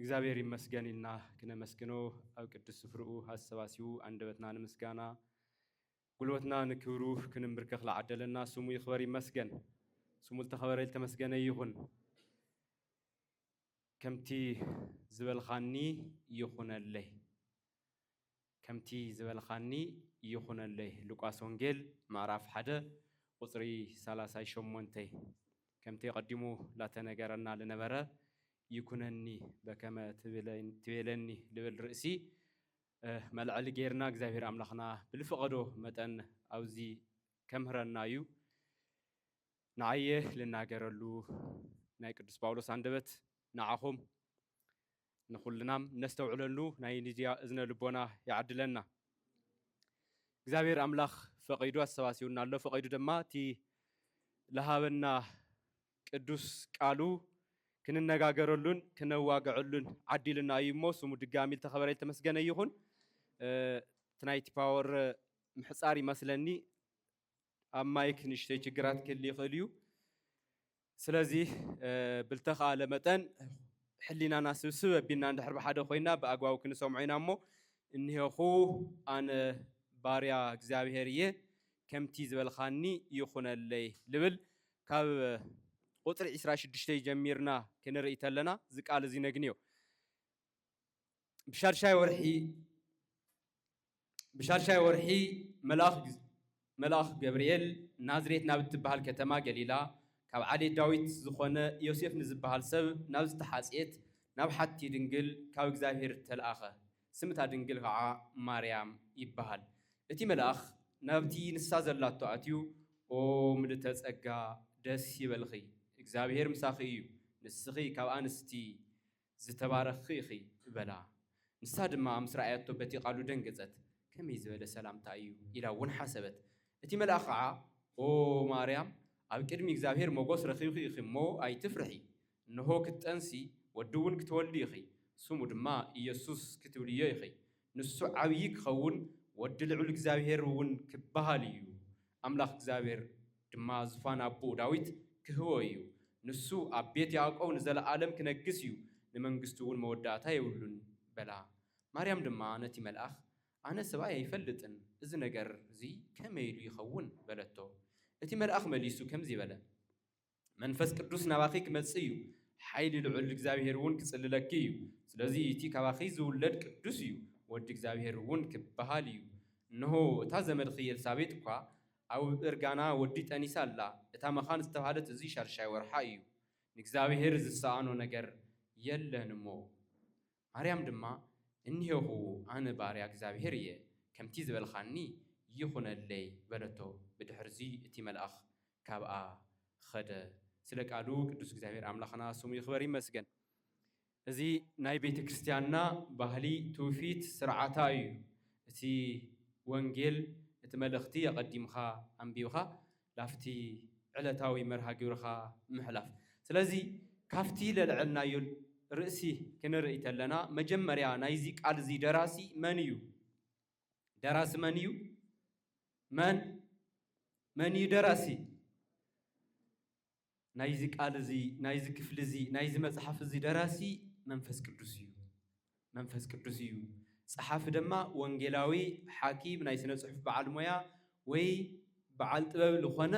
እግዚኣብሔር ይመስገን ኢልና ክነመስግኖ ኣብ ቅዱስ ስፍርኡ ኣሰባሲቡ ኣንደበትና ንምስጋና ጉልበትና ንክብሩ ክንምብርከኽ ለዓደለና ስሙ ይኽበር ይመስገን። ስሙ ዝተኸበረ ዝተመስገነ ይኹን። ከምቲ ዝበልኻኒ ይኹነለይ። ከምቲ ዝበልኻኒ ይኹነለይ ሉቃስ ወንጌል ምዕራፍ ሓደ ቁጽሪ ሰላሳይ ሸሞንተይ ከምቲ ኣቀዲሙ ላተነገረና ልነበረ ይኩነኒ በከመ ትቤለኒ ልብል ርእሲ መልዐሊ ገይርና እግዚኣብሔር ኣምላኽና ብልፈቀዶ መጠን ኣውዚ ከምህረና እዩ ንዓየ ልናገረሉ ናይ ቅዱስ ጳውሎስ ኣንደበት ንዓኹም ንኹልና ነስተውዕለሉ ናይ ንድያ እዝነ ልቦና ይዓድለና። እግዚኣብሔር ኣምላኽ ፈቒዱ ኣሰባሲቡና ኣሎ። ፈቒዱ ድማ እቲ ለሃበና ቅዱስ ቃሉ ክንነጋገረሉን ክነዋግዐሉን ዓዲልና እዩ እሞ ስሙ ድጋሚ ዝተኸበረ ዝተመስገነ ይኹን። እቲ ናይቲ ፓወር ምሕፃር ይመስለኒ ኣብ ማይክ ንእሽተይ ችግራት ክህል ይኽእል እዩ። ስለዚ ብልተኻእለ መጠን ሕሊናና ስብስብ ኣቢልና እንድሕር ብሓደ ኮይና ብኣግባቡ ክንሰምዖ ኢና እሞ እኒሀኹ ኣነ ባርያ እግዚኣብሔር እየ ከምቲ ዝበልኻኒ ይኹነለይ ልብል ካብ ቁፅሪ ዕስራ ሽዱሽተ ጀሚርና ክንርኢ ተለና እዚ ቃል እዚ ነግንዮ። ብሻድሻይ ወርሒ ብሻድሻይ ወርሒ መልኣኽ ገብርኤል ናዝሬት ናብ እትበሃል ከተማ ገሊላ ካብ ዓሌት ዳዊት ዝኾነ ዮሴፍ ንዝበሃል ሰብ ናብ ዝተሓጽየት ናብ ሓቲ ድንግል ካብ እግዚኣብሔር ተልኣኸ። ስም እታ ድንግል ኸዓ ማርያም ይበሃል። እቲ መልኣኽ ናብቲ ንሳ ዘላቶ ኣትዩ ኦ ምልእተ ጸጋ ደስ ይበልኺ እግዚኣብሔር ምሳኺ እዩ ንስኺ ካብ ኣንስቲ ዝተባረኽኺ ኢኺ በላ። ንሳ ድማ ምስ ረኣያቶ በቲ ቓሉ ደንገጸት፣ ከመይ ዝበለ ሰላምታ እዩ ኢላ እውን ሓሰበት። እቲ መልኣኽ ኸዓ፣ ኦ ማርያም፣ ኣብ ቅድሚ እግዚኣብሄር ሞገስ ረኺብኪ ኢኺ እሞ ኣይትፍርሒ፣ እንሆ ክትጠንሲ፣ ወዲ እውን ክትወልዲ ኢኺ፣ ስሙ ድማ ኢየሱስ ክትብልዮ ኢኺ፣ ንሱ ዓብዪ ክኸውን ወዲ ልዑል እግዚኣብሄር እውን ክበሃል እዩ፣ ኣምላኽ እግዚኣብሄር ድማ ዙፋን ኣቦኡ ዳዊት ክህቦ እዩ፣ ንሱ ኣብ ቤት ያዕቆብ ንዘለኣለም ክነግስ እዩ፣ ንመንግስቱ እውን መወዳእታ የብሉን በላ። ማርያም ድማ ነቲ መልኣኽ ኣነ ሰብኣይ ኣይፈልጥን፣ እዚ ነገር እዚ ከመይ ኢሉ ይኸውን? በለቶ። እቲ መልኣኽ መሊሱ ከምዚ በለ። መንፈስ ቅዱስ ናባኺ ክመጽእ እዩ፣ ሓይሊ ልዑል እግዚኣብሄር እውን ክጽልለኪ እዩ። ስለዚ እቲ ካባኺ ዝውለድ ቅዱስ እዩ፣ ወዲ እግዚኣብሄር እውን ክበሃል እዩ። እንሆ፣ እታ ዘመድኪ ኤልሳቤጥ እኳ ኣብ እርጋና ወዲ ጠኒሳ ኣላ፣ እታ መኻን ዝተባህለት እዚ ሻድሻይ ወርሓ እዩ። ንእግዚኣብሄር ዝሰኣኖ ነገር የለን እሞ። ማርያም ድማ፣ እንሄኹ ኣነ ባርያ እግዚኣብሄር እየ፣ ከምቲ ዝበልካኒ ይኹነለይ በለቶ፣ ብድሕርዚ እቲ መልኣኽ ካብኣ ኸደ። ስለ ቃሉ ቅዱስ እግዚኣብሔር ኣምላኽና ስሙ ይኽበር ይመስገን። እዚ ናይ ቤተ ክርስቲያንና ባህሊ ትውፊት ስርዓታ እዩ። እቲ ወንጌል እቲ መልእኽቲ ኣቐዲምኻ ኣንቢብኻ ላፍቲ ዕለታዊ መርሃ ግብርኻ ምሕላፍ። ስለዚ ካፍቲ ለልዐልናዮ ርእሲ ክንርእይ ተለና መጀመርያ ናይዚ ቃል እዚ ደራሲ መን እዩ? ደራሲ መን እዩ? መን? መን እዩ ደራሲ? ናይዚ ቃል እዚ፣ ናይዚ ክፍሊ እዚ፣ ናይዚ መጽሓፍ እዚ ደራሲ መንፈስ ቅዱስ እዩ። መንፈስ ቅዱስ እዩ። ጸሓፊ ደማ ወንጌላዊ፣ ሓኪም፣ ናይ ስነ ጽሑፍ በዓል ሞያ ወይ በዓል ጥበብ ልኾነ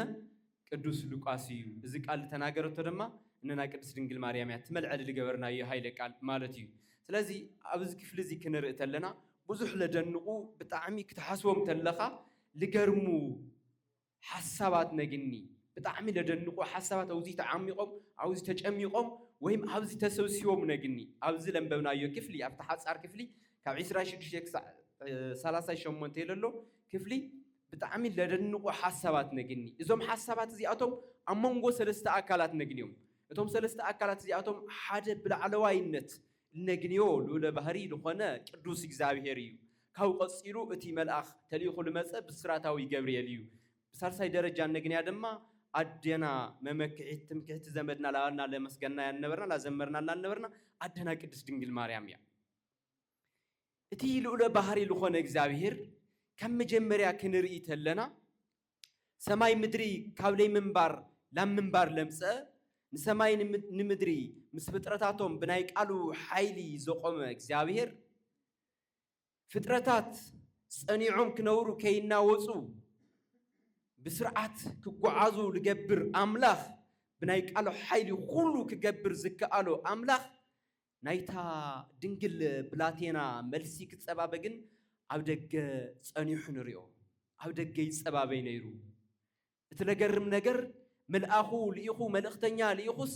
ቅዱስ ሉቃስ እዩ። እዚ ቃል ልተናገረቶ ደማ እነና ቅድስት ድንግል ማርያም እያ። እቲ መልዐሊ ልገበርናዮ ኃይለ ቃል ማለት እዩ። ስለዚ ኣብዚ ክፍሊ እዚ ክንርኢ ተለና ብዙሕ ለደንቑ ብጣዕሚ ክትሓስቦም ተለኻ ልገርሙ ሓሳባት ነግኒ ብጣዕሚ ለደንቁ ሓሳባት ኣውዚ ተዓሚቖም ኣውዚ ተጨሚቖም ወይም ኣብዚ ተሰብሲቦም ነግኒ ኣብዚ ለንበብናዮ ክፍሊ ኣብቲ ሓጻር ክፍሊ ካብ ዕስራን ሽዱሽተን ክሳዕ ሰላሳን ሸሞንተን ለሎ ክፍሊ ብጣዕሚ ለደንቁ ሓሳባት ነግኒ እዞም ሓሳባት እዚኣቶም ኣብ መንጎ ሰለስተ ኣካላት ነግንዮም እቶም ሰለስተ ኣካላት እዚኣቶም ሓደ ብላዕለዋይነት እነግንዮ ልኡለ ባህርይ ልኾነ ቅዱስ እግዚኣብሔር እዩ። ካብኡ ቀጺሉ እቲ መልኣኽ ተልኢኹ ልመጸ ብስራታዊ ገብርኤል እዩ። ብሳልሳይ ደረጃ እነግንያ ድማ ኣዴና መመክሒት ትምክሕቲ ዘመድና ላበልና ለመስገንናያ ልነበርና ላዘመርናላ ልነበርና ኣደና ቅድስት ድንግል ማርያም እያ። እቲ ልኡለ ባህርይ ልኾነ እግዚኣብሔር ካብ መጀመርያ ክንርኢ ተለና ሰማይ ምድሪ ካብ ለይምንባር ላብ ምንባር ለምጽአ፣ ንሰማይን ንምድሪ ምስ ፍጥረታቶም ብናይ ቃሉ ሓይሊ ዘቆመ እግዚኣብሔር፣ ፍጥረታት ጸኒዖም ክነብሩ ከይናወጹ ብስርዓት ክጎዓዙ ልገብር ኣምላኽ፣ ብናይ ቃሉ ሓይሊ ኹሉ ክገብር ዝከኣሎ ኣምላኽ፣ ናይታ ድንግል ብላቴና መልሲ ክጸባበ ግን ኣብ ደገ ጸኒሑ ንሪኦ። ኣብ ደገ ይጸባበይ ነይሩ። እቲ ለገርም ነገር መልኣኹ ልኢኹ መልእኽተኛ ልኢኹስ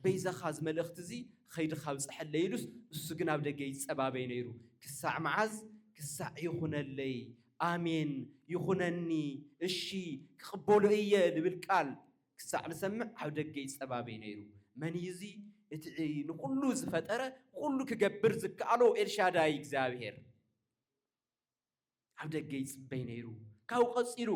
በይዛኻ እዚ መልእኽቲ እዚ ኸይድኻ ኣብጽሐለይ ኢሉስ እሱ ግን ኣብ ደገ ይጸባበይ ነይሩ ክሳዕ መዓዝ ክሳዕ ይኹነለይ ኣሜን ይኹነኒ እሺ ክቕበሎ እየ ልብል ቃል ክሳዕ ዝሰምዕ ኣብ ደገ ይጸባበይ ነይሩ። መን እዩ እዚ እቲ ንኹሉ ዝፈጠረ ኩሉ ክገብር ዝከኣሎ ኤልሻዳይ እግዚኣብሄር? ኣብ ደገ ይጽበይ ነይሩ። ካብኡ ቀጺሉ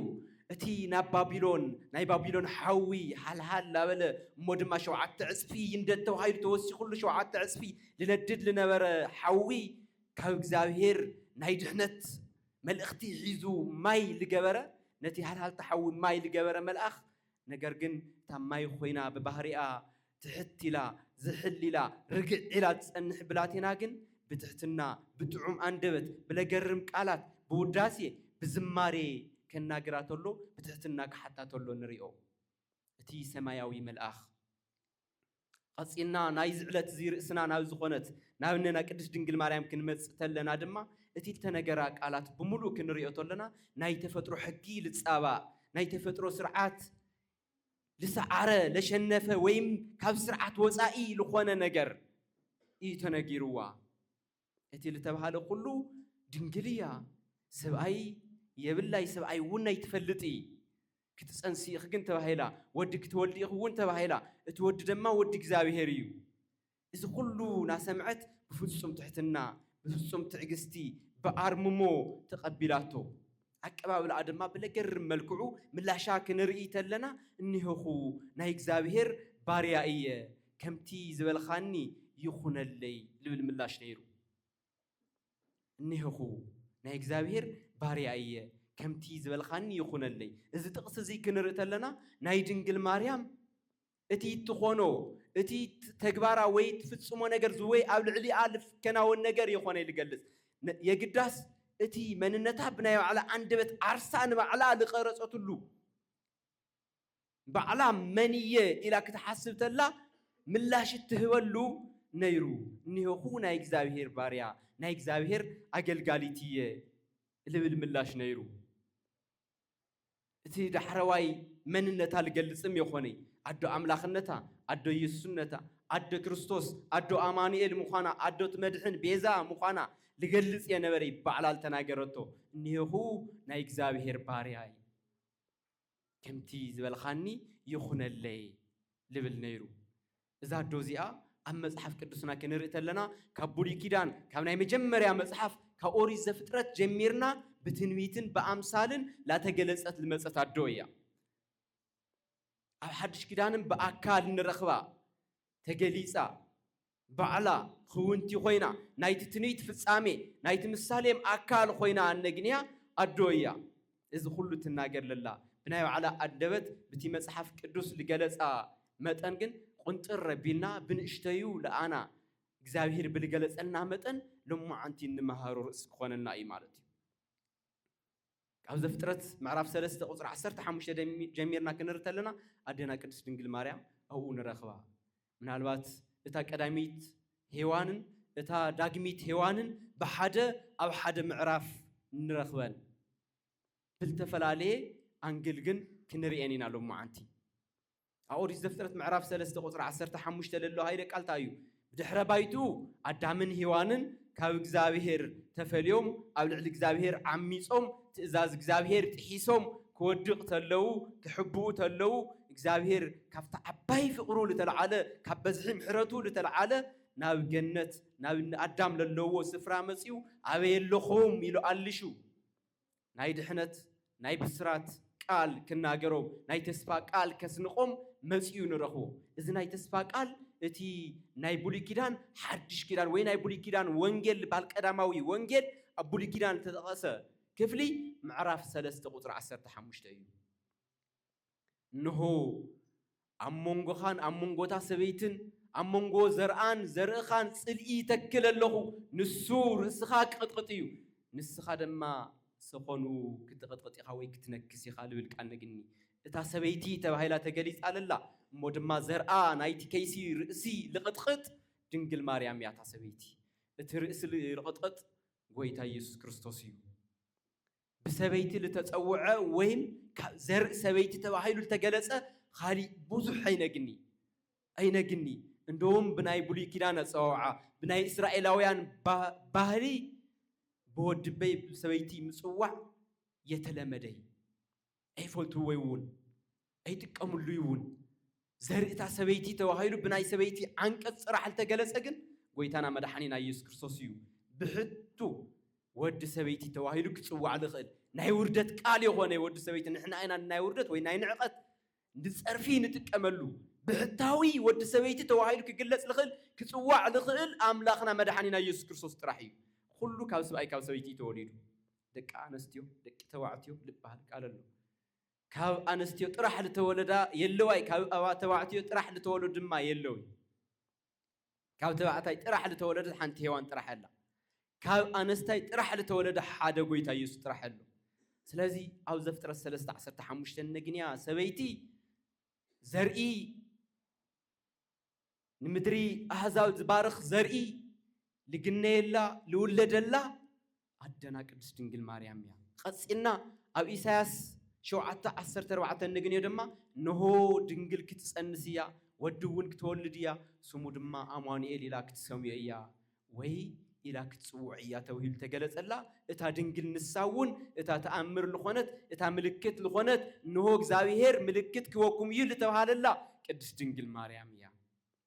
እቲ ናብ ባቢሎን ናይ ባቢሎን ሓዊ ሃልሃል ላበለ እሞ ድማ ሸውዓተ ዕጽፊ ይንደድ ተባሂሉ ተወሲኹሉ ሸውዓተ ዕጽፊ ልነድድ ልነበረ ሓዊ ካብ እግዚኣብሄር ናይ ድሕነት መልእኽቲ ሒዙ ማይ ልገበረ ነቲ ሃልሃልታ ሓዊ ማይ ልገበረ መልኣኽ ነገር ግን እታ ማይ ኮይና ብባህሪኣ ትሕት ኢላ ዝሕል ኢላ ርግዕ ኢላ ትጸንሕ ብላቴና ግን ብትሕትና ብጥዑም ኣንደበት ብለገርም ቃላት ብውዳሴ ብዝማሬ ከናግራ ተሎ ብትሕትና ክሓታ ተሎ ንሪኦ እቲ ሰማያዊ መልኣኽ ቐጺልና ናይዚ ዕለት እዚ ርእስና ናብ ዝኾነት ናብ እነና ቅድስት ድንግል ማርያም ክንመጽእ ተለና ድማ እቲ እተነገራ ቃላት ብምሉእ ክንርእዮ ተለና ናይ ተፈጥሮ ሕጊ ልጻባእ ናይ ተፈጥሮ ስርዓት ልሰዓረ ለሸነፈ ወይም ካብ ስርዓት ወጻኢ ልኾነ ነገር እዩ ተነጊርዋ። እቲ ልተብሃለ ኩሉ ድንግል እያ ሰብኣይ የብላይ ሰብኣይ ውን ኣይትፈልጥ እይ ክትጸንሲ ኢኺ ግን ተባሂላ ወዲ ክትወልዲ ኢኺ ውን ተባሂላ እቲ ወዲ ደማ ወዲ እግዚኣብሄር እዩ እዚ ኩሉ ናሰምዐት ብፍጹም ትሕትና ብፍጹም ትዕግስቲ ብኣርምሞ ተቀቢላቶ ኣቀባብላኣ ድማ ብለገርም መልክዑ ምላሻ ክንርኢ ተለና እኔሆኹ ናይ እግዚኣብሔር ባርያ እየ ከምቲ ዝበልኻኒ ይኹነለይ ልብል ምላሽ ነይሩ። እኔሆኹ ናይ እግዚኣብሔር ባርያ እየ ከምቲ ዝበልኻኒ ይኹነለይ እዚ ጥቕሲ እዚ ክንርኢ ተለና ናይ ድንግል ማርያም እቲ ትኾኖ፣ እቲ ትተግባራ ወይ ትፍጽሞ ነገር ዝወይ ኣብ ልዕሊኣ ልፍከናወን ነገር የኾነይ ልገልጽ። የግዳስ እቲ መንነታ ብናይ ባዕላ ኣንደበት ዓርሳ ንባዕላ ልቐረጸትሉ ባዕላ መን እየ ኢላ ክትሓስብ ተላ ምላሽ እትህበሉ ነይሩ። እኔሆኹ ናይ እግዚኣብሔር ባርያ፣ ናይ እግዚኣብሔር ኣገልጋሊት እየ ልብል ምላሽ ነይሩ። እቲ ዳሕረዋይ መንነታ ልገልጽም የኾነይ ኣዶ ኣምላኽነታ ኣዶ ኢየሱስነታ ኣደ ክርስቶስ ኣዶ ኣማኑኤል ምዃና ኣዶት መድሕን ቤዛ ምዃና ልገልጽ እየ ነበረይ ባዕላ ልተናገረቶ እኒሄኹ ናይ እግዚኣብሔር ባርያ እየ ከምቲ ዝበልኻኒ ይኹነለይ ልብል ነይሩ እዛ ኣዶ እዚኣ ኣብ መጽሓፍ ቅዱስና ክንርኢ ተለና ካብ ብሉይ ኪዳን ካብ ናይ መጀመርያ መጽሓፍ ካብ ኦሪት ዘፍጥረት ጀሚርና ብትንቢትን ብኣምሳልን ላተገለጸት ልመጸት ኣዶ እያ። ኣብ ሓድሽ ኪዳንን ብኣካል ንረኽባ ተገሊጻ ባዕላ ክውንቲ ኮይና ናይቲ ትንቢት ፍጻሜ ናይቲ ምሳሌም ኣካል ኮይና እነግንያ ኣዶ እያ። እዚ ኩሉ ትናገር ለላ ብናይ ባዕላ ኣደበት ብቲ መጽሓፍ ቅዱስ ልገለጻ መጠን ግን ቁንጥር ኣቢልና ብንእሽተዩ ልኣና እግዚኣብሂር ብልገለጸልና መጠን ሎማዓንቲ እንመሃሮ ርእሲ ክኾነና እዩ ማለት እዩ ካብ ዘፍጥረት ምዕራፍ ሰለስተ ቁፅሪ ዓሰርተ ሓሙሽተ ጀሚርና ክንርተለና ኣዴና ቅድስት ድንግል ማርያም ኣብኡ ንረኽባ ምናልባት እታ ቀዳሚት ሄዋንን እታ ዳግሚት ሄዋንን ብሓደ ኣብ ሓደ ምዕራፍ ንረኽበን፣ ብልተፈላለየ ኣንግል ግን ክንሪኤን ኢና ሎምዓንቲ። ኣብ ኦሪት ዘፍጥረት ምዕራፍ ሰለስተ ቁጽሪ ዓሰርተ ሓሙሽተ ለሎ ሃይለ ቃል እንታይ እዩ? ብድሕረ ባይትኡ ኣዳምን ሄዋንን ካብ እግዚኣብሄር ተፈልዮም ኣብ ልዕሊ እግዚኣብሄር ዓሚጾም ትእዛዝ እግዚኣብሄር ጥሒሶም ክወድቅ ተለዉ ክሕብኡ ተለዉ እግዚኣብሄር ካብቲ ዓባይ ፍቅሩ ልተልዓለ ካብ በዝሒ ምሕረቱ ልተልዓለ ናብ ገነት ናብ እኒ ኣዳም ለለዎ ስፍራ መጺኡ ኣበይ ኣለኹም ኢሉ ኣልሹ ናይ ድሕነት ናይ ብስራት ቃል ክናገሮም ናይ ተስፋ ቃል ከስንቆም መጺኡ ንረኽቦ እዚ ናይ ተስፋ ቃል እቲ ናይ ብሉይ ኪዳን ሓድሽ ኪዳን ወይ ናይ ብሉይ ኪዳን ወንጌል ልባል ቀዳማዊ ወንጌል ኣብ ብሉይ ኪዳን እተጠቐሰ ክፍሊ ምዕራፍ ሰለስተ ቁጽሪ ዓሰርተ ሓሙሽተ እዩ። እንሆ፣ ኣብ መንጎኻን ኣብ መንጎ እታ ሰበይትን ኣብ መንጎ ዘርኣን ዘርእኻን ጽልኢ ይተክል ኣለኹ፣ ንሱ ርእስኻ ኪቕጥቕጥ እዩ፣ ንስኻ ድማ ሰዀኑ ክትቕጥቕጥ ኢኻ ወይ ክትነክስ ኢኻ ልብል ቃል ነግኒ። እታ ሰበይቲ ተባሂላ ተገሊጻ ለላ እሞ ድማ ዘርኣ ናይቲ ከይሲ ርእሲ ልቕጥቕጥ ድንግል ማርያም እያ እታ ሰበይቲ። እቲ ርእሲ ልቕጥቕጥ ጎይታ ኢየሱስ ክርስቶስ እዩ። ብሰበይቲ ልተጸውዐ ወይም ካብ ዘርኢ ሰበይቲ ተባሂሉ ልተገለጸ ኻሊእ ብዙሕ ኣይነግኒ ኣይነግኒ እንደውም ብናይ ብሉይ ኪዳን ኣጸዋውዓ ብናይ እስራኤላውያን ባህሊ ብወድበይ ብሰበይቲ ምጽዋዕ የተለመደይ ኣይፈልቱ ወይ እውን ኣይጥቀምሉ እውን ዘርእታ ሰበይቲ ተባሂሉ ብናይ ሰበይቲ ዓንቀፅ ፅራሕ ልተገለፀ ግን ጎይታና መድሓኒና ኢየሱስ ክርስቶስ እዩ ብሕቱ ወዲ ሰበይቲ ተባሂሉ ክፅዋዕ ዝኽእል ናይ ውርደት ቃል የኾነ ወዲ ሰበይቲ ንሕና ኢና ናይ ውርደት ወይ ናይ ንዕቐት ንፀርፊ ንጥቀመሉ ብሕታዊ ወዲ ሰበይቲ ተባሂሉ ክግለፅ ዝኽእል ክፅዋዕ ዝኽእል ኣምላኽና መድሓኒና ኢየሱስ ክርስቶስ ጥራሕ እዩ ኩሉ ካብ ስብኣይ ካብ ሰበይቲ እዩ ተወሊዱ ደቂ ኣነስትዮ ደቂ ተባዕትዮ ልባሃል ቃል ኣሎ ካብ ኣነስትዮ ጥራሕ ልተወለዳ የለዋይ ካብ ኣባ ተባዕትዮ ጥራሕ ልተወለዱ ድማ የለውይ ካብ ተባዕታይ ጥራሕ ልተወለደት ሓንቲ ሄዋን ጥራሕ ኣላ ካብ ኣነስታይ ጥራሕ ልተወለደ ሓደ ጎይታ ኢየሱስ ጥራሕ ኣሎ ስለዚ ኣብ ዘፍጥረት ሰለስተ ዓሰርተ ሓሙሽተ ነግንያ ሰበይቲ ዘርኢ ንምድሪ ኣህዛብ ዝባርኽ ዘርኢ ልግነየላ ልውለደላ ኣደና ቅድስት ድንግል ማርያም እያ። ቐጺልና ኣብ ኢሳያስ ሸውዓተ ዓሰርተ ኣርባዕተ እንግንዮ ድማ እንሆ ድንግል ክትጸንስ እያ ወዲ እውን ክትወልድ እያ ስሙ ድማ ኣማኑኤል ኢላ ክትሰምዮ እያ ወይ ኢላ ክትጽውዕ እያ ተብሂሉ ተገለጸላ፣ እታ ድንግል ንሳ እውን እታ ተኣምር ልኾነት እታ ምልክት ልኾነት እንሆ እግዚኣብሔር ምልክት ክበኩም እዩ ልተብሃለላ ቅድስት ድንግል ማርያም እያ።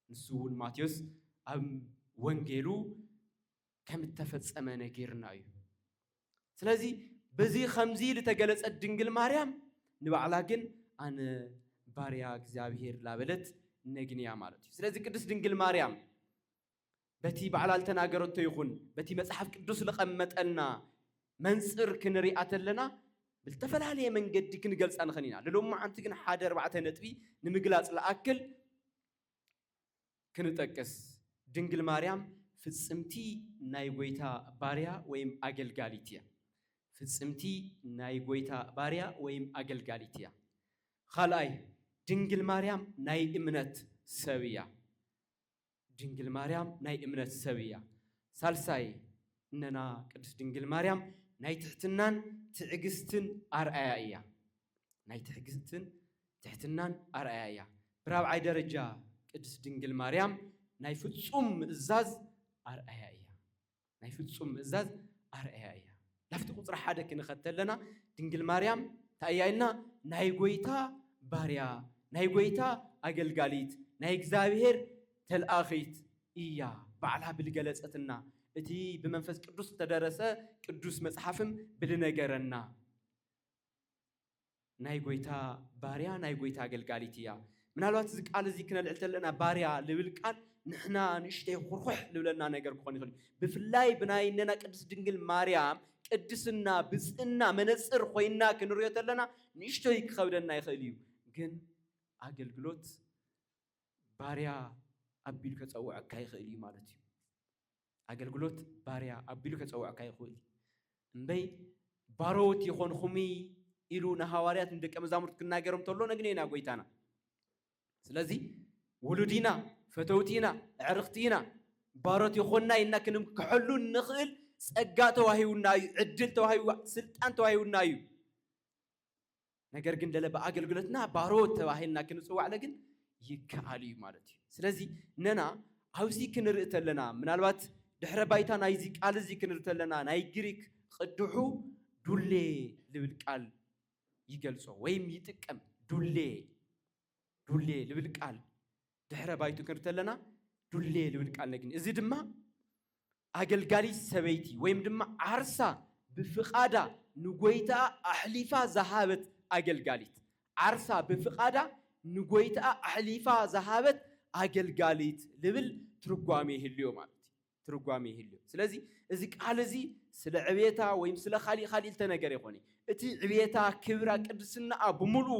ንሱ እውን ማቴዎስ ኣብ ወንጌሉ ከም እተፈጸመ ነጊርና እዩ። ስለዚ በዚ ከምዚ ልተገለጸት ድንግል ማርያም ንባዕላ ግን ኣነ ባርያ እግዚኣብሔር ላበለት ነግንያ ማለት እዩ። ስለዚ ቅድስት ድንግል ማርያም በቲ ባዕላ ልተናገረቶ ይኹን በቲ መጽሓፍ ቅዱስ ልቐመጠልና መንጽር ክንሪኣ ተለና ብልተፈላለየ መንገዲ ክንገልጻ ንኽን ኢና። ልሎም መዓንቲ ግን ሓደ ኣርባዕተ ነጥቢ ንምግላጽ ልኣክል ክንጠቅስ ድንግል ማርያም ፍጽምቲ ናይ ጐይታ ባርያ ወይም ኣገልጋሊት እያ። ፍጽምቲ ናይ ጐይታ ባርያ ወይም ኣገልጋሊት እያ። ኻልኣይ ድንግል ማርያም ናይ እምነት ሰብ እያ። ድንግል ማርያም ናይ እምነት ሰብ እያ። ሳልሳይ፣ እነና ቅድስት ድንግል ማርያም ናይ ትሕትናን ትዕግስትን ኣርኣያ እያ። ናይ ትዕግስትን ትሕትናን ኣርኣያ እያ። ብራብዓይ ደረጃ፣ ቅድስት ድንግል ማርያም ናይ ፍጹም ምእዛዝ ኣርኣያ እያ። ናይ ፍጹም ምእዛዝ ኣርኣያ እያ። ላፍቲ ቁጽሪ ሓደ ክንኸ ተለና ድንግል ማርያም እንታይ እያ ኢልና ናይ ጎይታ ባርያ ናይ ጎይታ ኣገልጋሊት ናይ እግዚኣብሔር ተልኣኺት እያ ባዕላ ብልገለጸትና እቲ ብመንፈስ ቅዱስ ዝተደረሰ ቅዱስ መጽሓፍም ብልነገረና። ናይ ጎይታ ባርያ ናይ ጎይታ ኣገልጋሊት እያ። ምናልባት እዚ ቃል እዚ ክነልዕል ተለና ባርያ ልብል ቃል ንሕና ንእሽተይ ኹርኹሕ ልብለና ነገር ክኾን ይኽእል እዩ። ብፍላይ ብናይ እነና ቅድስት ድንግል ማርያም ቅድስና ብፅእና መነፅር ኾይንና ክንሪኦ ተለና ንእሽተይ ክኸብደና ይኽእል እዩ። ግን ኣገልግሎት ባርያ ኣቢሉ ከፀውዐካ ይኽእል እዩ ማለት እዩ። ኣገልግሎት ባርያ ኣቢሉ ከጸውዐካ ይኽእል እዩ። እምበይ ባሮት ይኾንኹምይ ኢሉ ንሃዋርያት ንደቀ መዛሙርት ክናገሮም ተሎ ነግኔ ኢና ጎይታና። ስለዚ ውሉድ ኢና፣ ፈተውቲ ኢና፣ ኣዕርኽቲ ኢና፣ ባሮት ይኾንና ኢልና ክንምክሐሉ እንኽእል ጸጋ ተዋሂቡና እዩ፣ ዕድል ተዋሂቡ፣ ስልጣን ተዋሂቡና እዩ። ነገር ግን ለለ ብኣገልግሎትና ባሮት ተባሂልና ክንፅዋዕለ ግን ይከኣል እዩ ማለት እዩ ስለዚ ነና ኣብዚ ክንርኢ ተለና ምናልባት ድሕረ ባይታ ናይዚ ቃል እዚ ክንርኢ ተለና ናይ ግሪክ ቅድሑ ዱሌ ልብል ቃል ይገልጾ ወይም ይጥቀም ዱሌ ዱሌ ልብል ቃል ድሕረ ባይቱ ክንሪ ተለና ዱሌ ልብል ቃል ነግኒ እዚ ድማ ኣገልጋሊ ሰበይቲ ወይም ድማ ዓርሳ ብፍቓዳ ንጎይታኣ ኣሕሊፋ ዝሃበት ኣገልጋሊት ዓርሳ ብፍቓዳ ንጎይታኣ ኣሕሊፋ ዝሃበት ኣገልጋሊት ልብል ትርጓሜ ይህልዮ ማለት እዩ ትርጓሜ ይህልዮ ስለዚ እዚ ቃል እዚ ስለ ዕብየታ ወይም ስለ ካሊእ ካሊእ ዝተነገረ ይኾነ እቲ ዕብየታ ክብራ ቅድስናኣ ብምልኡ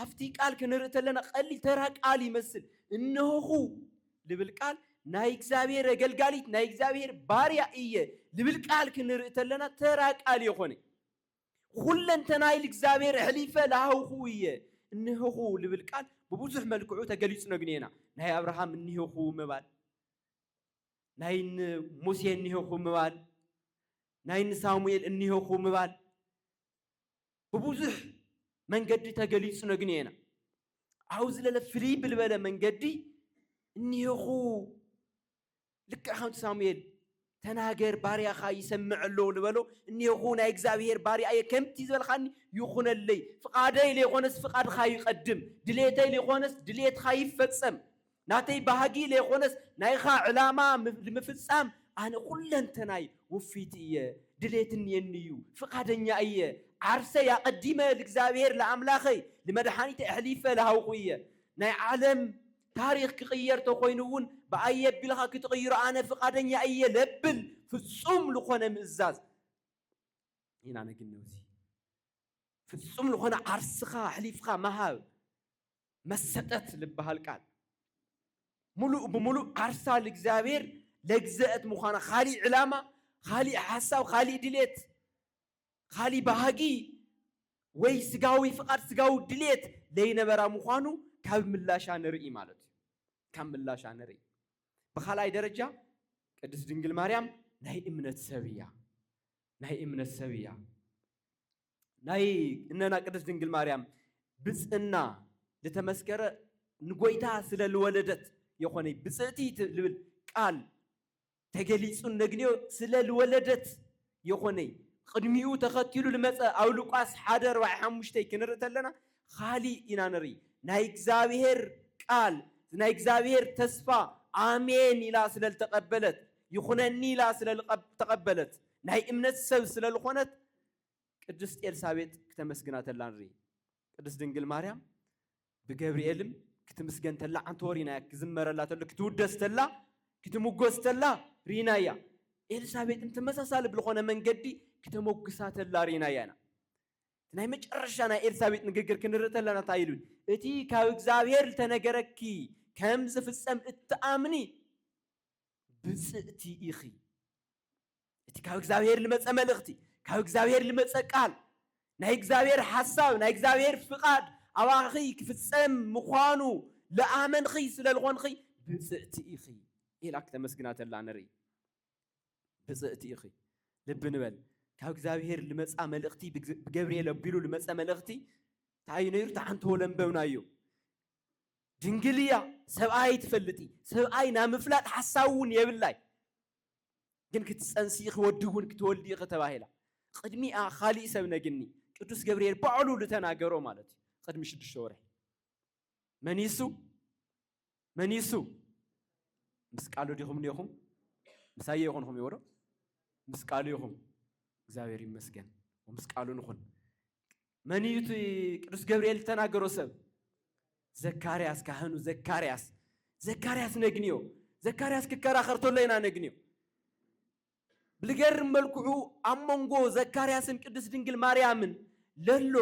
ኣብቲ ቃል ክንርኢ ተለና ቀሊል ተራ ቃል ይመስል እነሆኹ ልብል ቃል ናይ እግዚኣብሔር ኣገልጋሊት ናይ እግዚኣብሔር ባርያ እየ ልብል ቃል ክንርኢ ተለና ተራ ቃል የኾነ ኹለንተናይ ልእግዚኣብሔር ኣሕሊፈ ላሃውኹ እየ እነሆኹ ልብል ቃል ብብዙሕ መልክዑ ተገሊጹ ነግንየና ናይ ኣብርሃም እኒሆኹ ምባል ናይ ሙሴ እኒሆኹ ምባል ናይ ንሳሙኤል እኒሆኹ ምባል ብቡዙሕ መንገዲ ተገሊጹ ነግንየና። ኣብኡ ዝለለ ፍልይ ብልበለ መንገዲ እኒሄኹ ልክዕ ከምቲ ሳሙኤል ተናገር ባርያኻ ይሰምዕ ኣሎ ልበሎ እኒሄኹ ናይ እግዚኣብሄር ባርያ እየ ከምቲ ዝበልካኒ ይኹነለይ ፍቓደይ ለይኾነስ ፍቓድካ ይቐድም ድሌተይ ለይኾነስ ድሌትካ ይፈጸም ናተይ ባህጊ ለይኮነስ ናይኻ ዕላማ ልምፍጻም ኣነ ኩለንተናይ ውፊት እየ ድሌት እንየኒ እዩ ፍቃደኛ እየ ዓርሰይ ኣቀዲመ ልእግዚኣብሔር ልኣምላኸይ ልመድሓኒተይ ኣሕሊፈ ልሃውኹ እየ ናይ ዓለም ታሪኽ ክቅየር ተኮይኑ እውን ብኣይ ኣቢልኻ ክትቅይሮ ኣነ ፍቃደኛ እየ ለብል ፍጹም ልኾነ ምእዛዝ ኢና ነግነውዚ ፍጹም ልኾነ ዓርስኻ ኣሕሊፍኻ ምሃብ መሰጠት ልበሃል ቃል ሙሉእ ብሙሉእ ዓርሳ ልእግዚኣብሔር ለግዘእት ምዃና ኻሊእ ዕላማ ኻሊእ ሓሳብ ኻሊእ ድሌት ኻሊእ ባህጊ ወይ ስጋዊ ፍቓድ ስጋዊ ድሌት ለይነበራ ምዃኑ ካብ ምላሻ ንርኢ ማለት እዩ ካብ ምላሻ ንርኢ ብኻልኣይ ደረጃ ቅድስት ድንግል ማርያም ናይ እምነት ሰብ እያ ናይ እምነት ሰብ እያ ናይ እነና ቅድስት ድንግል ማርያም ብፅእና ልተመስከረ ንጎይታ ስለ ልወለደት የኾነይ ብፅእቲ ልብል ቃል ተገሊፁ እነግንዮ ስለ ልወለደት የኾነይ ቕድሚኡ ተኸቲሉ ልመፀ ኣብ ሉቃስ ሓደ ኣርባዕይ ሓሙሽተይ ክንርኢ ተለና ኻሊእ ኢና ንርኢ ናይ እግዚኣብሔር ቃል ናይ እግዚኣብሔር ተስፋ ኣሜን ኢላ ስለ ልተቐበለት ይኹነኒ ኢላ ስለ ልተቐበለት ናይ እምነት ሰብ ስለ ልኾነት ቅድስት ኤልሳቤጥ ክተመስግና ተላ ንርኢ። ቅድስት ድንግል ማርያም ብገብርኤልም ክትምስገን ተላ ዓንተ ወሪናያ፣ ክዝመረላ ተሎ ክትውደስ ተላ፣ ክትምጎስ ተላ ርኢናያ። ኤልሳቤጥም ተመሳሳሊ ብልኾነ መንገዲ ክተመጉሳ ተላ ርኢናያ ኢና። ናይ መጨረሻ ናይ ኤልሳቤጥ ንግግር ክንርኢ ተለና እንታይ ኢሉ እቲ ካብ እግዚኣብሔር ዝተነገረኪ ከም ዝፍጸም እትኣምኒ ብጽእቲ ኢኺ እቲ ካብ እግዚኣብሔር ልመፀ መልእኽቲ ካብ እግዚኣብሔር ልመፀ ቃል ናይ እግዚኣብሔር ሓሳብ ናይ እግዚኣብሔር ፍቓድ ኣባኺ ክፍፀም ምዃኑ ልኣመንኺ ስለ ልኾንኺ ብፅእቲ ኢኺ ኢላ ክተመስግና ተላ ንርኢ ብፅእቲ ኢኺ ልቢ ንበል ካብ እግዚኣብሔር ልመፃ መልእኽቲ ብገብርኤል ኣቢሉ ልመፀ መልእኽቲ እንታይ እዩ ነይሩ ተዓንተዎ ለንበብናዮ ድንግል እያ ሰብኣይ ትፈልጥ ሰብኣይ ናብ ምፍላጥ ሓሳብ እውን የብላይ ግን ክትጸንሲ ኢኺ ወዲ እውን ክትወልዲ ኢኺ ተባሂላ ቕድሚኣ ኻሊእ ሰብ ነግኒ ቅዱስ ገብርኤል ባዕሉ ልተናገሮ ማለት እዩ ቕድሚ ሽዱሽተ ወርሒ መን ይሱ መን ይሱ ምስ ቃሉ ዲኹም ኔኹም ምሳየ ይኹንኹም ይወዶ ምስ ቃሉ ይኹም እግዚኣብሔር ይመስገን ምስ ቃሉ ንኹን መን እዩ እቲ ቅዱስ ገብርኤል ዝተናገሮ ሰብ? ዘካርያስ ካህኑ ዘካርያስ ዘካርያስ ነግንዮ ዘካርያስ ክከራኸር ተሎ ኢና ነግንዮ ብልገርም መልክዑ ኣብ መንጎ ዘካርያስን ቅዱስ ድንግል ማርያምን ለሎ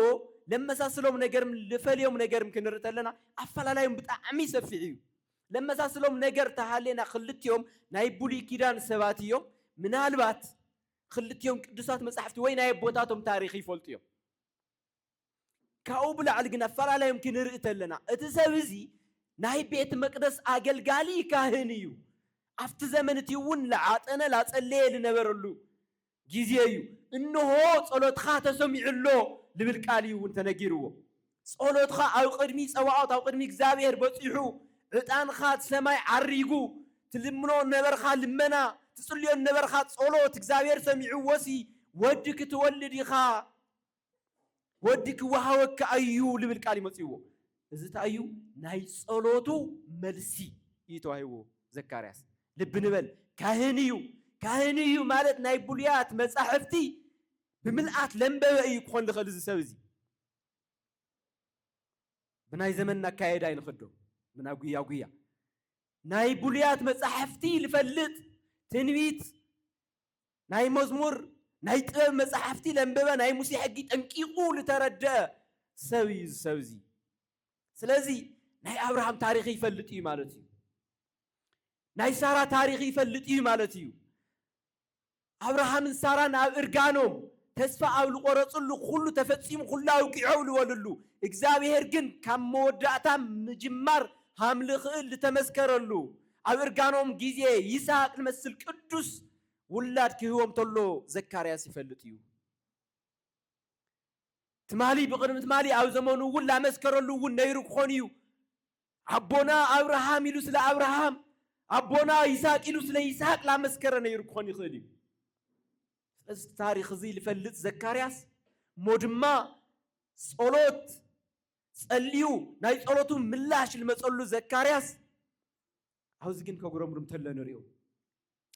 ለመሳስሎም ነገር ልፈልዮም ነገር ክንርኢ ተለና ኣፈላላዮም ብጣዕሚ ሰፊሕ እዩ ለመሳስሎም ነገር ተሃሌና ክልቲኦም ናይ ብሉይ ኪዳን ሰባት እዮም ምናልባት ኽልቲኦም ቅዱሳት መጻሕፍቲ ወይ ናይ ኣቦታቶም ታሪኽ ይፈልጡ እዮም። ካብኡ ብላዕሊ ግን ኣፈላላዮም ክንርኢ ተለና እቲ ሰብ እዚ ናይ ቤት መቅደስ ኣገልጋሊ ካህን እዩ። ኣብቲ ዘመን እቲ እውን ላዓጠነ ላጸለየ ልነበረሉ ጊዜ እዩ። እንሆ ጸሎትኻ ተሰሚዑ ኣሎ ልብል ቃል እዩ እውን ተነጊርዎ። ጸሎትካ ኣብ ቅድሚ ጸባኦት ኣብ ቅድሚ እግዚኣብሄር በጺሑ፣ ዕጣንካ ኣብ ሰማይ ዓሪጉ፣ ትልምኖ ዝነበርካ ልመና፣ ትጽልዮ ዝነበርካ ጸሎት እግዚኣብሄር ሰሚዕዎሲ ወዲ ክትወልድ ኢኻ፣ ወዲ ክወሃበካ ኣዩ ዝብል ቃል እዩ መጺእዎ። እዚ እንታይ እዩ? ናይ ጸሎቱ መልሲ እዩ ተዋሂብዎ ዘካርያስ። ልቢ ንበል ካህን እዩ፣ ካህን እዩ ማለት ናይ ብሉያት መጻሕፍቲ ብምልኣት ዘንበበ እዩ ክኾን ዝኽእል እዚ ሰብ እዚ። ብናይ ዘመንና ኣካየዳ ይንኸዶ ምና ጉያ ጉያ ናይ ብሉያት መጻሕፍቲ ልፈልጥ ትንቢት ናይ መዝሙር ናይ ጥበብ መጻሕፍቲ ለንበበ ናይ ሙሴ ሕጊ ጠንቂቑ ልተረድአ ሰብ እዩ እዚ ሰብ እዚ ስለዚ ናይ ኣብርሃም ታሪክ ይፈልጥ እዩ ማለት እዩ ናይ ሳራ ታሪክ ይፈልጥ እዩ ማለት እዩ ኣብርሃምን ሳራን ኣብ እርጋኖም ተስፋ ኣብ ልቆረጽሉ ኩሉ ተፈጺሙ ኩሉ ኣብቂዑ ልበልሉ እግዛብሄር ግን ካብ መወዳእታ ምጅማር ሃም ልክእል ልተመስከረሉ ኣብ እርጋኖም ግዜ ይስሃቅ ልመስል ቅዱስ ውላድ ክህቦም ተሎ ዘካርያስ ይፈልጥ እዩ ትማሊ ብቅድሚ ትማሊ ኣብ ዘመኑ እውን ላመስከረሉ እውን ነይሩ ክኾን እዩ ኣቦና ኣብርሃም ኢሉ ስለ ኣብርሃም፣ ኣቦና ይስሃቅ ኢሉ ስለ ይስሃቅ ላመስከረ ነይሩ ክኾን ይኽእል እዩ። ስለዚ እቲ ታሪኽ እዚ ልፈልጥ ዘካርያስ እሞ ድማ ጸሎት ጸልዩ ናይ ጸሎቱ ምላሽ ልመጸሉ ዘካርያስ ኣብዚ ግን ከጉረምርም ተሎ ንሪኦ።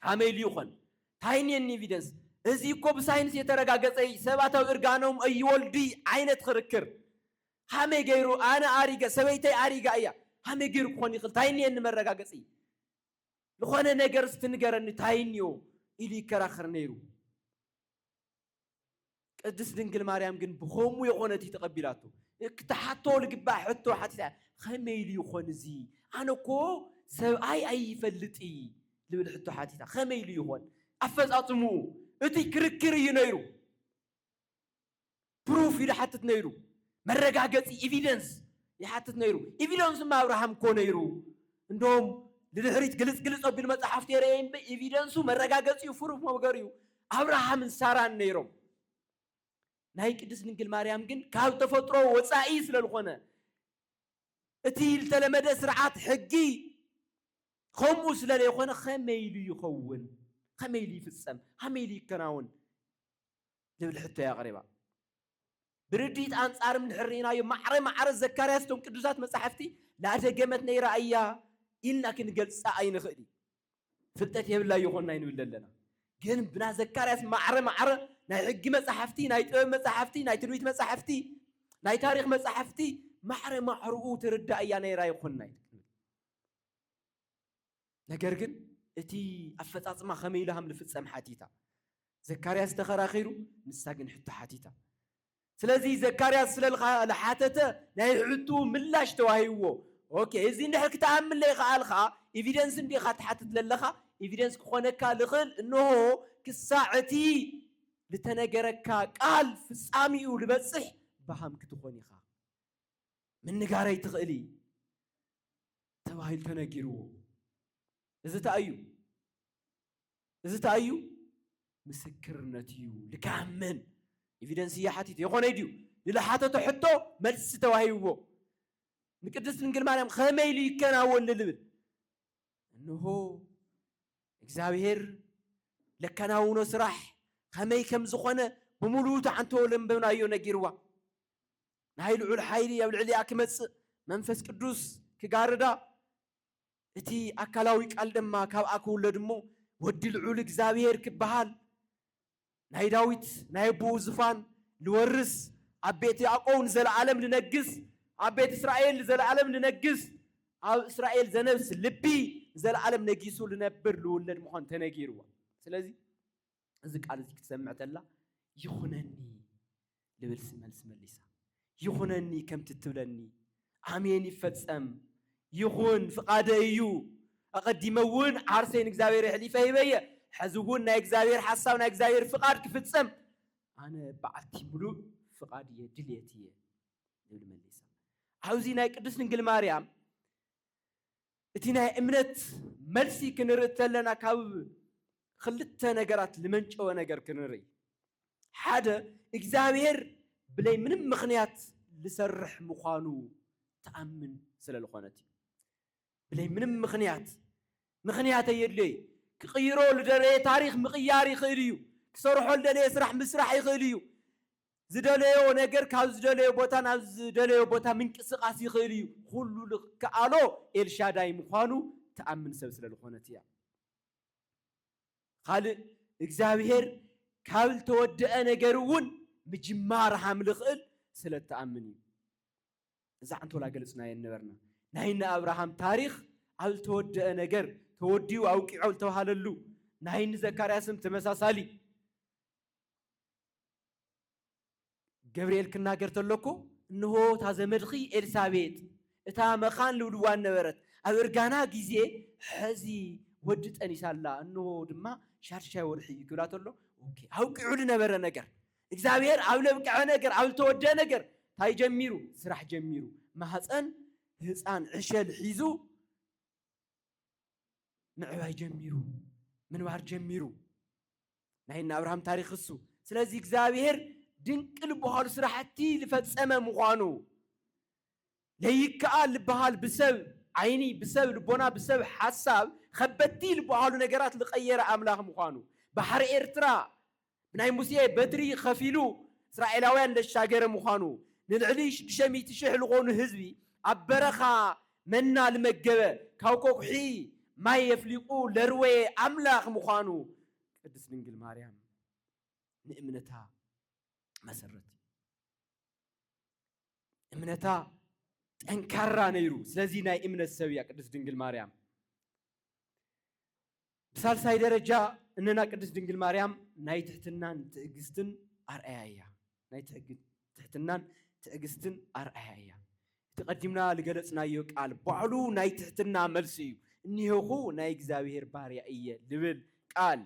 ካመይ ኢሉ ይኾን ታይ እኒኤኒ ኤቪደንስ እዚ እኮ ብሳይንስ የተረጋገፀ እዪ ሰባት ኣብ እርጋኖም እይወልዱ እዪ ዓይነት ኽርክር ኻመይ ገይሩ ኣነ ኣሪገ ሰበይተይ ኣሪጋ እያ ኻመይ ገይሩ ክኾን ይኽእል ታይ እኒኤኒ መረጋገፂ ልኾነ ነገር እስቲ ንገረኒ ታይ እኒኦ ኢሉ ይከራኸር ነይሩ ቅድስት ድንግል ማርያም ግን ብኸሙ የኾነት እዩ ተቐቢላቶ ክትሓቶ ልግባእ ሕቶ ሓቲታ ኸመይ ኢሉ ይኾን እዚ ኣነ እኮ ሰብኣይ ኣይፈልጥ እዪ ልብል ሕቶ ሓቲታ ኸመይ ኢሉ ይኾን ኣፈፃፅምኡ እቲ ክርክር እዩ ነይሩ ፕሩፍ ኢሉ ሓትት ነይሩ መረጋገጺ፣ ኢቪደንስ፣ ይሓትት ነይሩ። ኢቪደንስ እማ ኣብርሃም እኮ ነይሩ። እንደውም ንድሕሪት ግልጽ ግልጽ ኣቢሉ መጻሕፍቲ የርእየይ እምበይ ኢቪደንሱ መረጋገጺኡ ፍሩፍ መምገሪኡ ኣብርሃምን ሳራን ነይሮም። ናይ ቅድስት ድንግል ማርያም ግን ካብ ተፈጥሮ ወጻኢ ስለ ዝኾነ እቲ ዝተለመደ ስርዓት ሕጊ ከምኡ ስለ ዘይኮነ ከመይ ኢሉ ይኸውን? ከመይ ኢሉ ይፍጸም? ከመይ ኢሉ ይከናወን? ትብል ሕቶ እያ ኣቕሪባ። ብርድኢት ኣንጻርም እንድሕር ርኢናዮ ማዕረ ማዕረ ዘካርያስ እቶም ቅዱሳት መጻሕፍቲ ላደገመት ነይራ እያ ኢልና ክንገልጻ ኣይንኽእል እዩ። ፍልጠት የብላ ይኾን ኣይንብል ኣለና። ግን ብና ዘካርያስ ማዕረ ማዕረ ናይ ሕጊ መጻሕፍቲ፣ ናይ ጥበብ መጻሕፍቲ፣ ናይ ትንቢት መጻሕፍቲ፣ ናይ ታሪኽ መጻሕፍቲ ማዕረ ማዕርኡ ትርዳእ እያ ነይራ ይኾን ኣይንብል። ነገር ግን እቲ ኣፈጻጽማ ከመይ ኢሉ ሃም ልፍጸም ሓቲታ። ዘካርያስ ተኸራኺሩ፣ ንሳ ግን ሕቶ ሓቲታ። ስለዚ ዘካርያስ ስለ ልሓተተ ናይ ሕትኡ ምላሽ ተዋሂብዎ። ኦኬ እዚ እንድሕር ክትኣምን ለይኸኣልካ ኢቪደንስ እንዶ ኢኻ ትሓትት ለለኻ ኢቪደንስ ክኾነካ ልኽእል እንሆ ክሳዕ እቲ ልተነገረካ ቃል ፍጻሚኡ ልበጽሕ ብሃም ክትኾን ኢኻ። ምንጋረይ ትኽእል። ተባሂሉ ተነጊርዎ። እዚ እንታይ እዩ? እዚ እንታይ እዩ? ምስክርነት እዩ። ልክዓ መን ኤቪደንስ እያ ሓቲት የኾነ ድዩ? ንልሓተቶ ሕቶ መልሲ ተዋሂብዎ። ንቅድስት ድንግል ማርያም ከመይ ኢሉ ይከናወን ልብል እንሆ እግዚኣብሔር ለከናውኖ ስራሕ ከመይ ከም ዝኾነ ብምሉኡ ተዓንተወ ለንበብናዮ ነጊርዋ። ናይ ልዑል ሓይሊ ኣብ ልዕሊኣ ኪመጽእ፣ መንፈስ ቅዱስ ኪጋርዳ፣ እቲ ኣካላዊ ቃል ድማ ካብኣ ኪውለድ እሞ፣ ወዲ ልዑል እግዚኣብሔር ኪበሃል፣ ናይ ዳዊት ናይ ኣቦኡ ዝፋን ልወርስ፣ ኣብ ቤት ያእቆው ንዘለዓለም ልነግስ፣ ኣብ ቤት እስራኤል ንዘለዓለም ልነግስ፣ ኣብ እስራኤል ዘነብስ ልቢ ንዘለዓለም ነጊሱ ልነብር ልውለድ ምዃኑ ተነጊርዋ። ስለዚ። እዚ ቃል እዚ ክትሰምዕ ተላ ይኹነኒ ልብል መልሲ መሊሳ ይኹነኒ ከምቲ እትብለኒ ኣሜን ይፈጸም ይኹን ፍቃደ እዩ ኣቐዲመ እውን ዓርሰይ ንእግዚኣብሔር የሕሊፈ ሂበየ ሕዚ እውን ናይ እግዚኣብሔር ሓሳብ ናይ እግዚኣብሔር ፍቃድ ክፍጸም ኣነ በዓልቲ ምሉእ ፍቃድ እየ ድልየት እየ ዝብል መሊሳ ኣብዚ ናይ ቅዱስ ድንግል ማርያም እቲ ናይ እምነት መልሲ ክንርኢ ተለና ካብ ኽልተ ነገራት ልመንጨወ ነገር ክንርኢ ሓደ እግዚኣብሔር ብለይ ምንም ምኽንያት ልሰርሕ ምዃኑ ትኣምን ስለ ልኾነት እዩ ብለይ ምንም ምኽንያት ምኽንያት ኣየድልዮይ ክቕይሮ ልደለየ ታሪኽ ምቕያር ይኽእል እዩ ክሰርሖ ልደለየ ስራሕ ምስራሕ ይኽእል እዩ ዝደለዮ ነገር ካብ ዝደለዮ ቦታ ናብ ዝደለዮ ቦታ ምንቅስቃስ ይኽእል እዩ። ኹሉ ልክኣሎ ኤልሻዳይ ምዃኑ ትኣምን ሰብ ስለ ልኾነት እያ። ኻልእ እግዚኣብሔር ካብ ልተወደኣ ነገር እውን ምጅማር ሃም ልኽእል ስለ ትኣምን እዩ። እዛ ዕንቶላ ገልጽናየን ነበርና። ናይ እነ ኣብርሃም ታሪኽ ኣብ ልተወደኣ ነገር ተወዲኡ ኣውቂዖ ልተብሃለሉ ናይ እኒ ዘካርያስም ተመሳሳሊ ገብርኤል ክናገር ተሎኩ እንሆ እታ ዘመድኺ ኤልሳቤጥ እታ መኻን ልብልዋን ነበረት ኣብ እርጋና ግዜ ሐዚ ወዲ ጠኒሳ ኣላ እንሆ ድማ ሻድሻይ ወርሒ እዩ ክብላ ተሎ ኦኬ ኣብቂዑ ልነበረ ነገር እግዚኣብሔር ኣብ ለብቅዐ ነገር ኣብ ልተወደአ ነገር እንታይ ጀሚሩ ስራሕ ጀሚሩ ማህፀን ህፃን ዕሸል ሒዙ ምዕባይ ጀሚሩ ምንባር ጀሚሩ ናይ እነ ኣብርሃም ታሪክ እሱ ስለዚ እግዚኣብሔር ድንቅ ልበሃሉ ስራሕቲ ልፈጸመ ምዃኑ ለይከኣል ልበሃል ብሰብ ዓይኒ ብሰብ ልቦና ብሰብ ሓሳብ ከበቲ ልበሃሉ ነገራት ልቀየረ ኣምላኽ ምዃኑ ባሕሪ ኤርትራ ብናይ ሙሴ በትሪ ከፊሉ እስራኤላውያን ለሻገረ ምዃኑ ንልዕሊ ሽዱሽተ ሚእቲ ሽሕ ልኾኑ ህዝቢ ኣብ በረኻ መና ልመገበ ካብ ቆቁሒ ማይ የፍሊቁ ለርወየ ኣምላክ ምኳኑ ቅድስት ድንግል ማርያም ንእምነታ መሰረት እዩ። እምነታ ጠንካራ ነይሩ። ስለዚ ናይ እምነት ሰብ እያ ቅድስት ድንግል ማርያም። ብሳልሳይ ደረጃ እነና ቅድስት ድንግል ማርያም ናይ ትሕትናን ትዕግስትን ኣርኣያ እያ። ናይ ትሕትናን ትዕግስትን ኣርኣያ እያ። እቲ ቀዲምና ዝገለጽናዮ ቃል ባዕሉ ናይ ትሕትና መልሲ እዩ። እኒሄኹ ናይ እግዚኣብሔር ባርያ እየ ልብል ቃል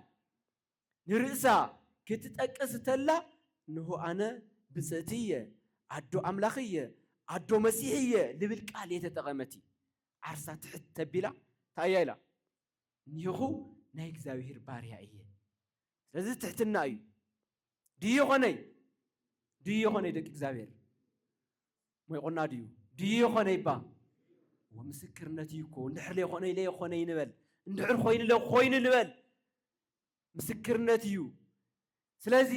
ንርእሳ ክትጠቅስ ተላ እንሆ ኣነ ብጽእቲ እየ፣ ኣዶ ኣምላኽ እየ፣ ኣዶ መሲሕ እየ ልብል ቃል እየ ተጠቐመቲ። ዓርሳ ትሕት ተቢላ እንታይ እያ ኢላ? እኒህኹ ናይ እግዚኣብሔር ባርያ እየ። ስለዚ ትሕትና እዩ። ድዩ ኾነይ ድዩ ኾነይ ደቂ እግዚኣብሔር ሞይቆና ድዩ ድዩ ኾነይ ባ ምስክርነት እዩ እኮ እንድሕር ለይኮነ ለይኮነ ይንበል እንድሕር ኮይኑ ለኮይኑ ንበል ምስክርነት እዩ። ስለዚ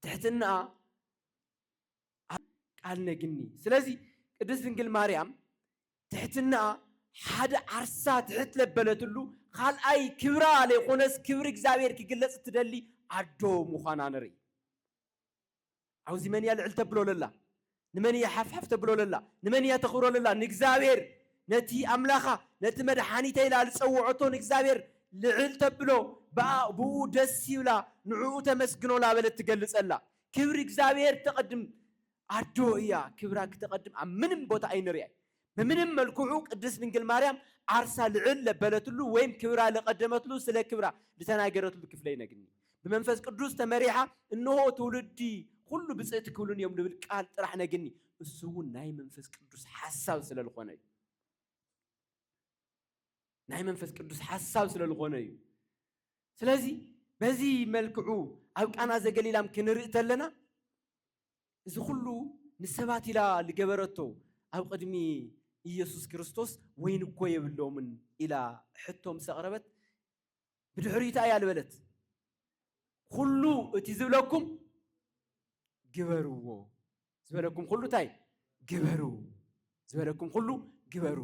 ትሕትና ቃል ነግኒ። ስለዚ ቅድስት ድንግል ማርያም ትሕትና ሓደ ዓርሳ ትሕት ለበለትሉ ኻልኣይ ክብራ ለይኾነስ ክብሪ እግዚኣብሔር ክግለጽ እትደሊ ኣዶ ምዃና ንርኢ። ዓውዚ መን እያ ልዕል ተብሎ ለላ? ንመን እያ ሓፍሓፍ ተብሎ ለላ? ንመን እያ ተኽብሮ ለላ? ንእግዚኣብሔር ነቲ ኣምላኻ ነቲ መድሓኒተይ ኢላ ልጸውዖቶ ንእግዚኣብሔር ልዕል ተብሎ ብኣ ብኡ ደስ ይብላ ንዕኡ ተመስግኖ ላበለት ትገልጸላ ክብሪ እግዚኣብሔር ተቐድም ኣዶ እያ ክብራ ክተቀድም ኣብ ምንም ቦታ ኣይንሪኣይ ብምንም መልኩዑ ቅድስት ድንግል ማርያም ዓርሳ ልዕል ለበለትሉ ወይም ክብራ ለቀደመትሉ ስለ ክብራ ልተናገረትሉ ክፍለ ይነግኒ ብመንፈስ ቅዱስ ተመሪሓ እንሆ ትውልዲ ኹሉ ብፅእቲ ክብሉኒ እዮም ልብል ቃል ጥራሕ ነግኒ እሱ እውን ናይ መንፈስ ቅዱስ ሓሳብ ስለ ልኾነ እዩ ናይ መንፈስ ቅዱስ ሓሳብ ስለ ልኾነ እዩ ስለዚ በዚ መልክዑ ኣብ ቃና ዘገሊላም ክንርኢ ተለና እዚ ኩሉ ንሰባት ኢላ ልገበረቶ ኣብ ቕድሚ ኢየሱስ ክርስቶስ ወይን እኮ የብሎምን ኢላ ሕቶ ምስ ኣቕረበት ብድሕሪኡ እንታይ እያ ልበለት? ኩሉ እቲ ዝብለኩም ግበርዎ ዝበለኩም ኩሉ እንታይ ግበሩ ዝበለኩም ኩሉ ግበሩ፣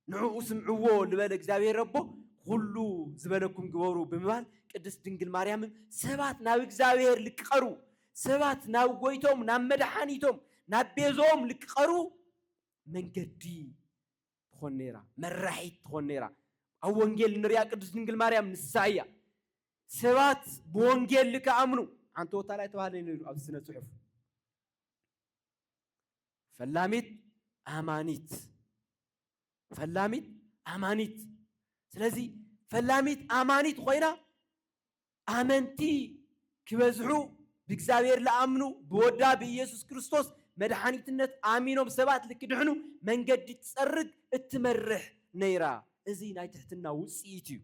ንዕኡ ስምዕዎ ልበለ እግዚኣብሔር ኣቦ ኩሉ ዝበለኩም ግበሩ ብምባል ቅድስት ድንግል ማርያምም ሰባት ናብ እግዚኣብሔር ልክቐሩ ሰባት ናብ ጎይቶም ናብ መድሓኒቶም ናብ ቤዞኦም ልክቐሩ መንገዲ ትኾን ነይራ፣ መራሒት ትኾን ነይራ። ኣብ ወንጌል ንሪኣ ቅድስት ድንግል ማርያም ንሳ እያ። ሰባት ብወንጌል ልክኣምኑ ሓንቲ ወታላይ ተባህለ ነይሩ ኣብ ስነ ፅሑፍ ፈላሚት ኣማኒት ፈላሚት ኣማኒት ስለዚ ፈላሚት ኣማኒት ኮይና ኣመንቲ ክበዝሑ ብእግዚኣብሔር ለኣምኑ ብወዳ ብኢየሱስ ክርስቶስ መድሓኒትነት ኣሚኖም ሰባት ልክድሕኑ መንገዲ ትጸርግ እትመርሕ ነይራ። እዚ ናይ ትሕትና ውጽኢት እዩ።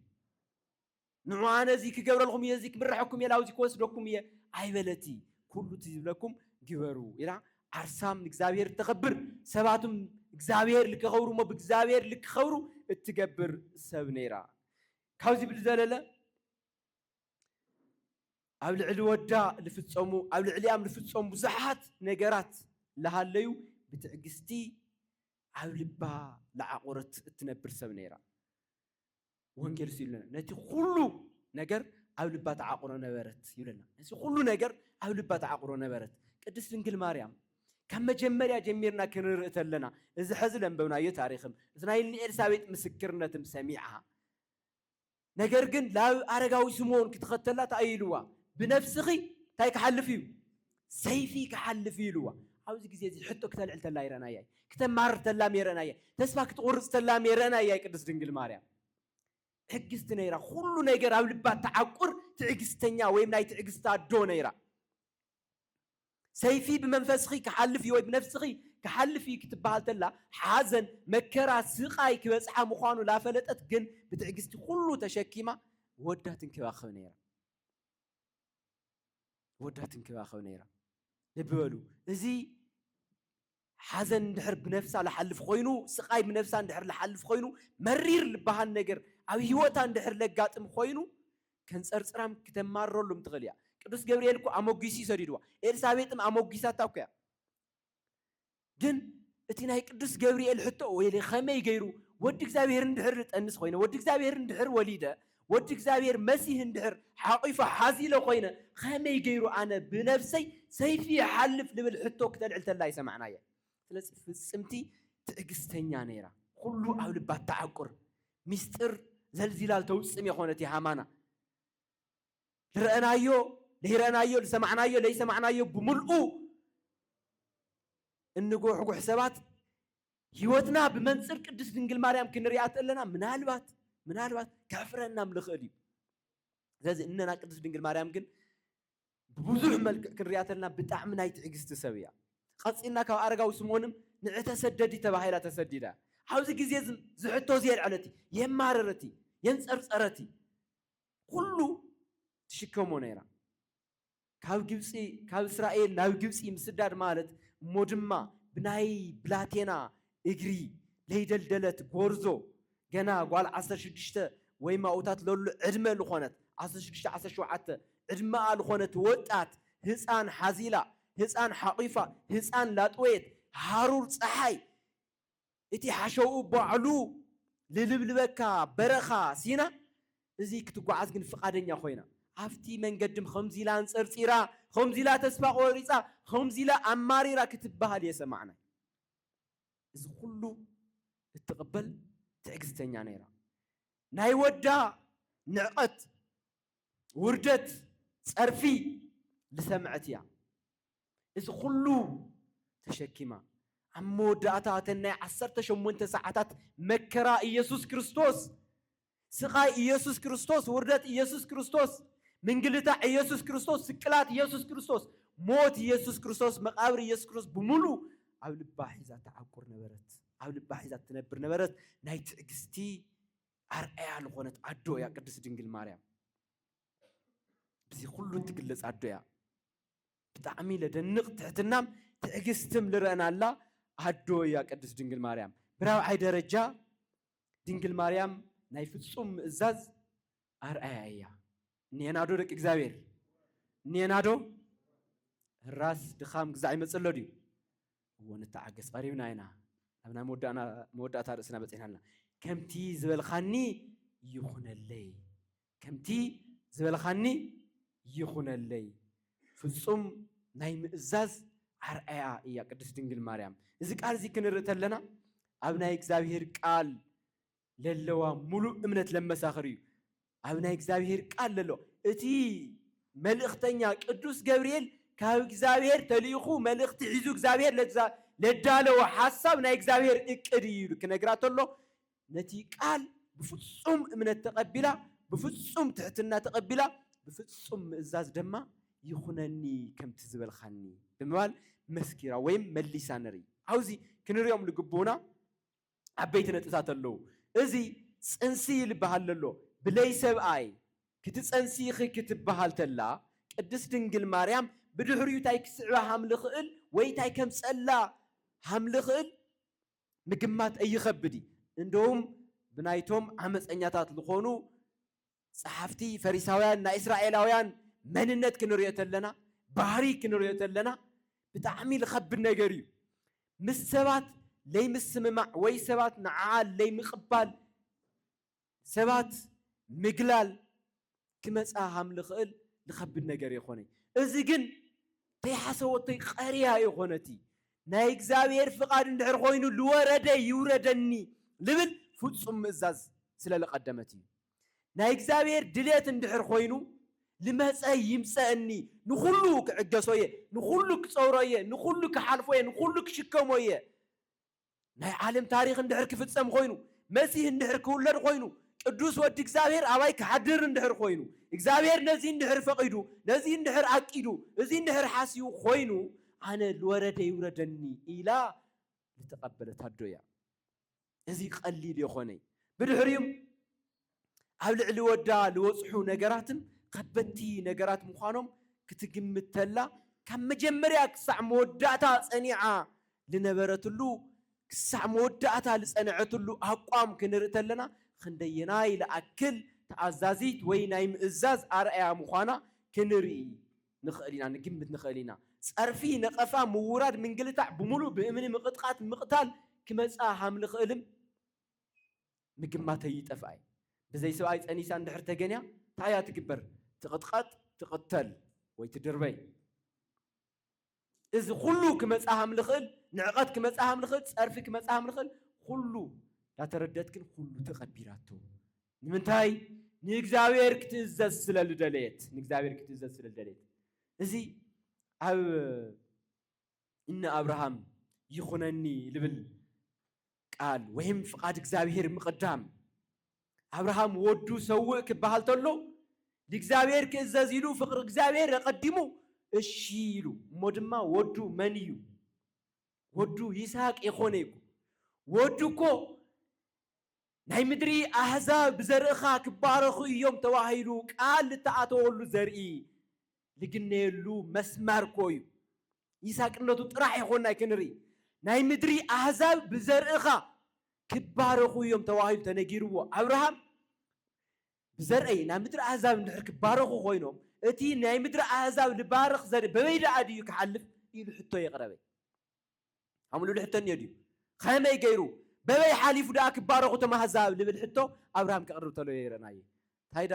ንዑ ኣነ እዚ ክገብረልኩም እየ፣ እዚ ክምርሐኩም እየ፣ ናብዚ ክወስደኩም እየ ኣይበለቲ። ኩሉ እቲ ዝብለኩም ግበሩ ኢላ ዓርሳም ንእግዚኣብሔር እተኸብር፣ ሰባትም እግዚኣብሔር ልከኸብሩ እሞ ብእግዚኣብሔር ልክኸብሩ እትገብር ሰብ ነይራ። ካብዚ ብልዘለለ ኣብ ልዕሊ ወዳ ልፍጸሙ ኣብ ልዕሊኣም ልፍጸሙ ብዙሓት ነገራት ልሃለዩ ብትዕግስቲ ኣብ ልባ ልዓቑረት እትነብር ሰብ ነይራ። ወንጌል እሱ ይብለና ነቲ ኩሉ ነገር ኣብ ልባ ተዓቁሮ ነበረት ይብለና ነዚ ኩሉ ነገር ኣብ ልባ ተዓቁሮ ነበረት ቅድስት ድንግል ማርያም ካብ መጀመርያ ጀሚርና ክንርኢ ተለና እዚ ሕዚ ለንበብናዮ ታሪኽም እዚ ናይ እኒ ኤልሳቤጥ ምስክርነትም ሰሚዓ ነገር ግን ላብ ኣረጋዊ ስምዖን ክትኸተላ እንታይ ኢልዋ ብነፍስኺ እንታይ ክሓልፍ እዩ ሰይፊ ክሓልፍ እዩ ኢልዋ። ኣብዚ ግዜ እዚ ሕቶ ክተልዕል ተላ ይረእናያ እዩ። ክተማርር ተላ ይረእናያ። ተስፋ ክትቑርጽ ተላ ይረእናያ እዩ። ቅድስት ድንግል ማርያም ትዕግስቲ ነይራ። ኩሉ ነገር ኣብ ልባ ትዓቁር ትዕግስተኛ ወይም ናይ ትዕግስቲ ኣዶ ነይራ። ሰይፊ ብመንፈስኺ ክሓልፍ እዩ ወይ ብነፍስኺ ክሓልፍ እዩ ክትበሃል ተላ ሓዘን፣ መከራ፣ ስቓይ ክበጽሓ ምዃኑ ላፈለጠት ግን ብትዕግስቲ ኩሉ ተሸኪማ ወዳ ትንከባኸብ ነይራ። ወዳ ትንከባኸብ ነይራ። ልቢ በሉ እዚ ሓዘን እንድሕር ብነፍሳ ልሓልፍ ኮይኑ ስቓይ ብነፍሳ እንድሕር ልሓልፍ ኮይኑ መሪር ልበሃል ነገር ኣብ ህይወታ እንድሕር ለጋጥም ኮይኑ ከንፀርፅራም ክተማርረሉም ትኽእል እያ። ቅዱስ ገብርኤል እኮ ኣሞጊሱ እዩ ሰዲድዋ። ኤልሳቤጥም ኣሞጊሳታ እኮ እያ። ግን እቲ ናይ ቅዱስ ገብርኤል ሕቶ ወይ ከመይ ገይሩ ወዲ እግዚኣብሔር እንድሕር ጠንስ ኮይነ ወዲ እግዚኣብሔር እንድሕር ወሊደ ወዲ እግዚኣብሔር መሲህ እንድሕር ሓቂፎ ሓዚለ ኮይነ ከመይ ገይሩ ኣነ ብነብሰይ ሰይፊ ይሓልፍ ልብል ሕቶ ክተልዕል ተላ ይሰማዕናየ ስለዚ ፍፅምቲ ትዕግስተኛ ነይራ ኩሉ ኣብ ልባ ተዓቁር ሚስጢር ዘልዚላል ተውፅም የኾነት የሃማና ልረእናዮ ለይረእናዮ ልሰማዕናዮ ለይሰማዕናዮ ብምልኡ እንጉሕጉሕ ሰባት ህይወትና ብመንፅር ቅድስት ድንግል ማርያም ክንሪኣ ተለና ምናልባት ምናልባት ከሕፍረናም ልኽእል እዩ ስለዚ እነና ቅድስት ድንግል ማርያም ግን ብብዙሕ መልክዕ ክንሪኣ ተለና ብጣዕሚ ናይ ትዕግስቲ ሰብ እያ ቀፂልና ካብ ኣረጋዊ ስምኦንም ንዕተሰደዲ ተባሂላ ተሰዲዳ ኣብዚ ግዜ እዚ ዝሕቶ እዚ የልዐለት የማረረት የንፀርፀረት ኩሉ ትሽከሞ ነይራ። ካብ ግብፂ ካብ እስራኤል ናብ ግብፂ ምስዳድ ማለት እሞ ድማ ብናይ ብላቴና እግሪ ለይደልደለት ጎርዞ ገና ጓል ዓሰርተ ሽዱሽተ ወይ ማኡታት ለሉ ዕድመ ልኾነት ዓሰርተ ሽዱሽተ ዓሰርተ ሸውዓተ ዕድመኣ ልኾነት ወጣት ህፃን ሓዚላ ህፃን ሓቂፋ ህፃን ላጥወየት ሃሩር ፀሓይ እቲ ሓሸውኡ ባዕሉ ልልብልበካ በረኻ ሲና እዚ ክትጓዓዝ ግን ፍቓደኛ ኮይና። ኣብቲ መንገድም ኸምዚ ኢላ ኣንጸርጺራ፣ ኸምዚ ኢላ ተስፋ ቆሪጻ፣ ኸምዚ ኢላ ኣማሪራ ክትበሃል እየሰማዕናይ። እዚ ኹሉ እትቕበል ትዕግስተኛ ነይራ። ናይ ወዳ ንዕቐት፣ ውርደት፣ ጸርፊ ልሰምዐት እያ። እዚ ኹሉ ተሸኪማ ኣብ መወዳእታ እተን ናይ ዓሰርተ ሸሞንተ ሰዓታት መከራ ኢየሱስ ክርስቶስ ስቓይ ኢየሱስ ክርስቶስ ውርደት ኢየሱስ ክርስቶስ ምንግልታዕ ኢየሱስ ክርስቶስ ስቅላት ኢየሱስ ክርስቶስ ሞት ኢየሱስ ክርስቶስ መቃብር ኢየሱስ ክርስቶስ ብምሉእ ኣብ ልባ ሒዛ ተዓቁር ነበረት ኣብ ልባ ሒዛ ትነብር ነበረት ናይ ትዕግስቲ ኣርኣያ ዝኾነት ኣዶ እያ ቅድስት ድንግል ማርያም ብዚ ኩሉ እትግለጽ ኣዶ እያ ብጣዕሚ ለደንቅ ትሕትናም ትዕግስትም ልረእናላ ኣዶ እያ ቅድስት ድንግል ማርያም። ብራብዓይ ደረጃ ድንግል ማርያም ናይ ፍጹም ምእዛዝ ኣርኣያ እያ። እኒኤናዶ ደቂ እግዚኣብሔር እኒኤናዶ? ህራስ ድኻም ግዛዕ ይመጽእሎ ድዩ? እዎ ንተዓገስ ቀሪብና ኢና ኣብ ናይ መወዳእታ ርእስና በጺሕና ኣለና። ከምቲ ዝበልካኒ ይኹነለይ ከምቲ ዝበልኻኒ ይኹነለይ። ፍጹም ናይ ምእዛዝ ኣርኣያ እያ ቅድስት ድንግል ማርያም። እዚ ቃል እዚ ክንርኢ ተለና ኣብ ናይ እግዚኣብሔር ቃል ለለዋ ሙሉእ እምነት ለመሳኽር እዩ። ኣብ ናይ እግዚኣብሔር ቃል ለሎ እቲ መልእኽተኛ ቅዱስ ገብርኤል ካብ እግዚኣብሔር ተልኢኹ መልእኽቲ ሒዙ እግዚኣብሔር ለዳለዎ ሓሳብ ናይ እግዚኣብሔር እቅድ እዩ ክነግራ ተሎ ነቲ ቃል ብፍጹም እምነት ተቐቢላ፣ ብፍጹም ትሕትና ተቐቢላ፣ ብፍጹም ምእዛዝ ደማ ይኹነኒ ከምቲ ዝበልካኒ ብምባል መስኪራ ወይም መሊሳ ንርኢ። ኣብ'ዚ ክንርእዮም ልግብኡና ዓበይቲ ነጥብታት ኣለዉ። እዚ ጽንሲ ልበሃል ለሎ ብለይ ሰብኣይ ክትጸንሲ ኢኺ ክትበሃል ተላ ቅድስት ድንግል ማርያም ብድሕሪኡ ታይ ክስዕባ ሃምልኽእል ወይ ታይ ከምጸላ ሃምልኽእል ምግማት እይኸብድ እዩ። እንደውም ብናይቶም ዓመጸኛታት ልኾኑ ጸሓፍቲ ፈሪሳውያን ናይ እስራኤላውያን መንነት ክንርእዮ ተለና፣ ባህሪ ክንርእዮ ተለና ብጣዕሚ ልኸብድ ነገር እዩ። ምስ ሰባት ለይምስምማዕ ወይ ሰባት ንዓኣ ለይምቕባል ሰባት ምግላል ክመጽኣ ሃም ልኽእል ልኸብድ ነገር የኾነይ። እዚ ግን ተይሓሰወቶይ ቐርያ የኾነቲ። ናይ እግዚኣብሔር ፍቓድ እንድሕር ኾይኑ ልወረደ ይውረደኒ ልብል ፍጹም ምእዛዝ ስለ ልቐደመት እዩ። ናይ እግዚኣብሔር ድልየት እንድሕር ኾይኑ ልመጸ ይምጸእኒ ንኹሉ ክዕገሶ እየ፣ ንኹሉ ክጸውሮ እየ፣ ንኹሉ ክሓልፎ እየ፣ ንኹሉ ክሽከሞ እየ፣ ናይ ዓለም ታሪኽ እንድሕር ክፍጸም ኾይኑ፣ መሲህ እንድሕር ክውለድ ኾይኑ፣ ቅዱስ ወዲ እግዚኣብሔር ኣባይ ክሓድር እንድሕር ኾይኑ፣ እግዚኣብሔር ነዚ እንድሕር ፈቒዱ፣ ነዚ እንድሕር ኣቂዱ፣ እዚ እንድሕር ሓስዩ ኾይኑ፣ ኣነ ልወረደ ይውረደኒ ኢላ ልተቐበለት ኣዶ እያ። እዚ ቐሊል የኾነይ። ብድሕሪኡ። ኣብ ልዕሊ ወዳ ልወጽሑ ነገራትን ከበድቲ ነገራት ምዃኖም ክትግምት ተላ ካብ መጀመርያ ክሳዕ መወዳእታ ጸኒዓ ልነበረትሉ ክሳዕ መወዳእታ ልጸንዐትሉ ኣቋም ክንርኢ ተለና ኽንደየናይ ልኣክል ተኣዛዚት ወይ ናይ ምእዛዝ ኣርኣያ ምዃና ክንርኢ ንኽእል ኢና ንግምት ንኽእል ኢና። ጸርፊ ነቐፋ ምውራድ ምንግልታዕ ብምሉእ ብእምኒ ምቕጥቓት ምቕታል ክመጻ ሃምልኽእልም ምግማተይ ይጠፍኣይ ብዘይ ስብኣይ ፀኒሳ እንድሕር ተገንያ ታይ እያ ትግበር ትቅጥቀጥ ትቅተል ወይ ትድርበይ እዚ ኩሉ ክመፅኣ ሃም ልኽእል ንዕቀት ክመፅኣ ሃም ልኽእል ፀርፊ ክመፅኣ ሃም ልኽእል ኩሉ ዳተረደት ግን ኩሉ ተቀቢራቶ ንምንታይ ንእግዚኣብሔር ክትእዘዝ ስለ ልደለየት ንእግዚኣብሔር ክትእዘዝ ስለ ልደለየት እዚ ኣብ እነ ኣብርሃም ይኹነኒ ልብል ቃል ወይም ፍቃድ እግዚኣብሔር ምቅዳም ኣብርሃም ወዱ ሰውእ ክበሃል ተሎ ንእግዚኣብሔር ክእዘዝ ኢሉ ፍቅሪ እግዚኣብሔር ኣቀዲሙ እሺ ኢሉ እሞ ድማ ወዱ መን እዩ ወዱ ይስሃቅ የኮነ ይኩ ወዱ እኮ ናይ ምድሪ ኣህዛብ ብዘርእኻ ክባረኹ እዮም ተባሂሉ ቃል እተኣተወሉ ዘርኢ ልግነየሉ መስመር ኮ እዩ ይሳቅነቱ ጥራሕ የኾናይ ክንርኢ ናይ ምድሪ ኣህዛብ ብዘርእኻ ክባረኹ እዮም ተባሂሉ ተነጊርዎ ኣብርሃም ብዘርእይ ናይ ምድሪ ኣህዛብ እንድሕር ክባረኹ ኮይኖም እቲ ናይ ምድሪ ኣህዛብ ልባርኽ ዘርኢ በበይ ደኣ ድዩ ክሓልፍ ኢሉ ሕቶ የቕረበ ኣምሉሉ ሕቶ እኒኦ ድዩ ከመይ ገይሩ በበይ ሓሊፉ ደኣ ክባረኹ ተማህዛብ ልብል ሕቶ ኣብርሃም ከቕርብ ተሎ ይረናየ ታይዳ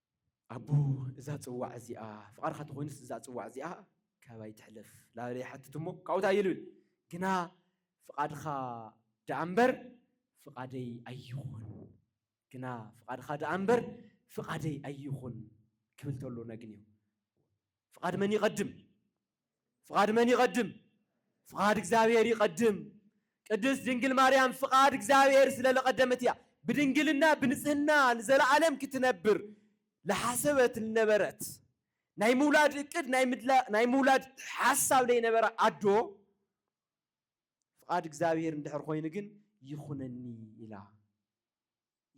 ኣቦ እዛ ጽዋዕ እዚኣ ፍቓድካ ተኾይኑስ እዛ ጽዋዕ እዚኣ ካባይ ትሕለፍ ላበለ ይሓትት እሞ ካብኡ ታይ ይብል ግና ፍቓድካ ደኣ እምበር ፍቓደይ ኣይኹን ግና ፍቓድካ ደኣ እምበር ፍቓደይ ኣይኹን ክብል ተሎ ነግንዮ ፍቓድ መን ይቐድም? ፍቓድ መን ይቐድም? ፍቓድ እግዚኣብሔር ይቐድም። ቅድስት ድንግል ማርያም ፍቓድ እግዚኣብሔር ስለ ለቐደመት እያ ብድንግልና ብንጽህና ንዘለዓለም ክትነብር ለሓሰበት ልነበረት ናይ ምውላድ እቅድ ናይ ምውላድ ሓሳብ ለይነበረ ኣዶ ፍቓድ እግዚኣብሔር እንድሕር ኮይኑ ግን ይኹነኒ ኢላ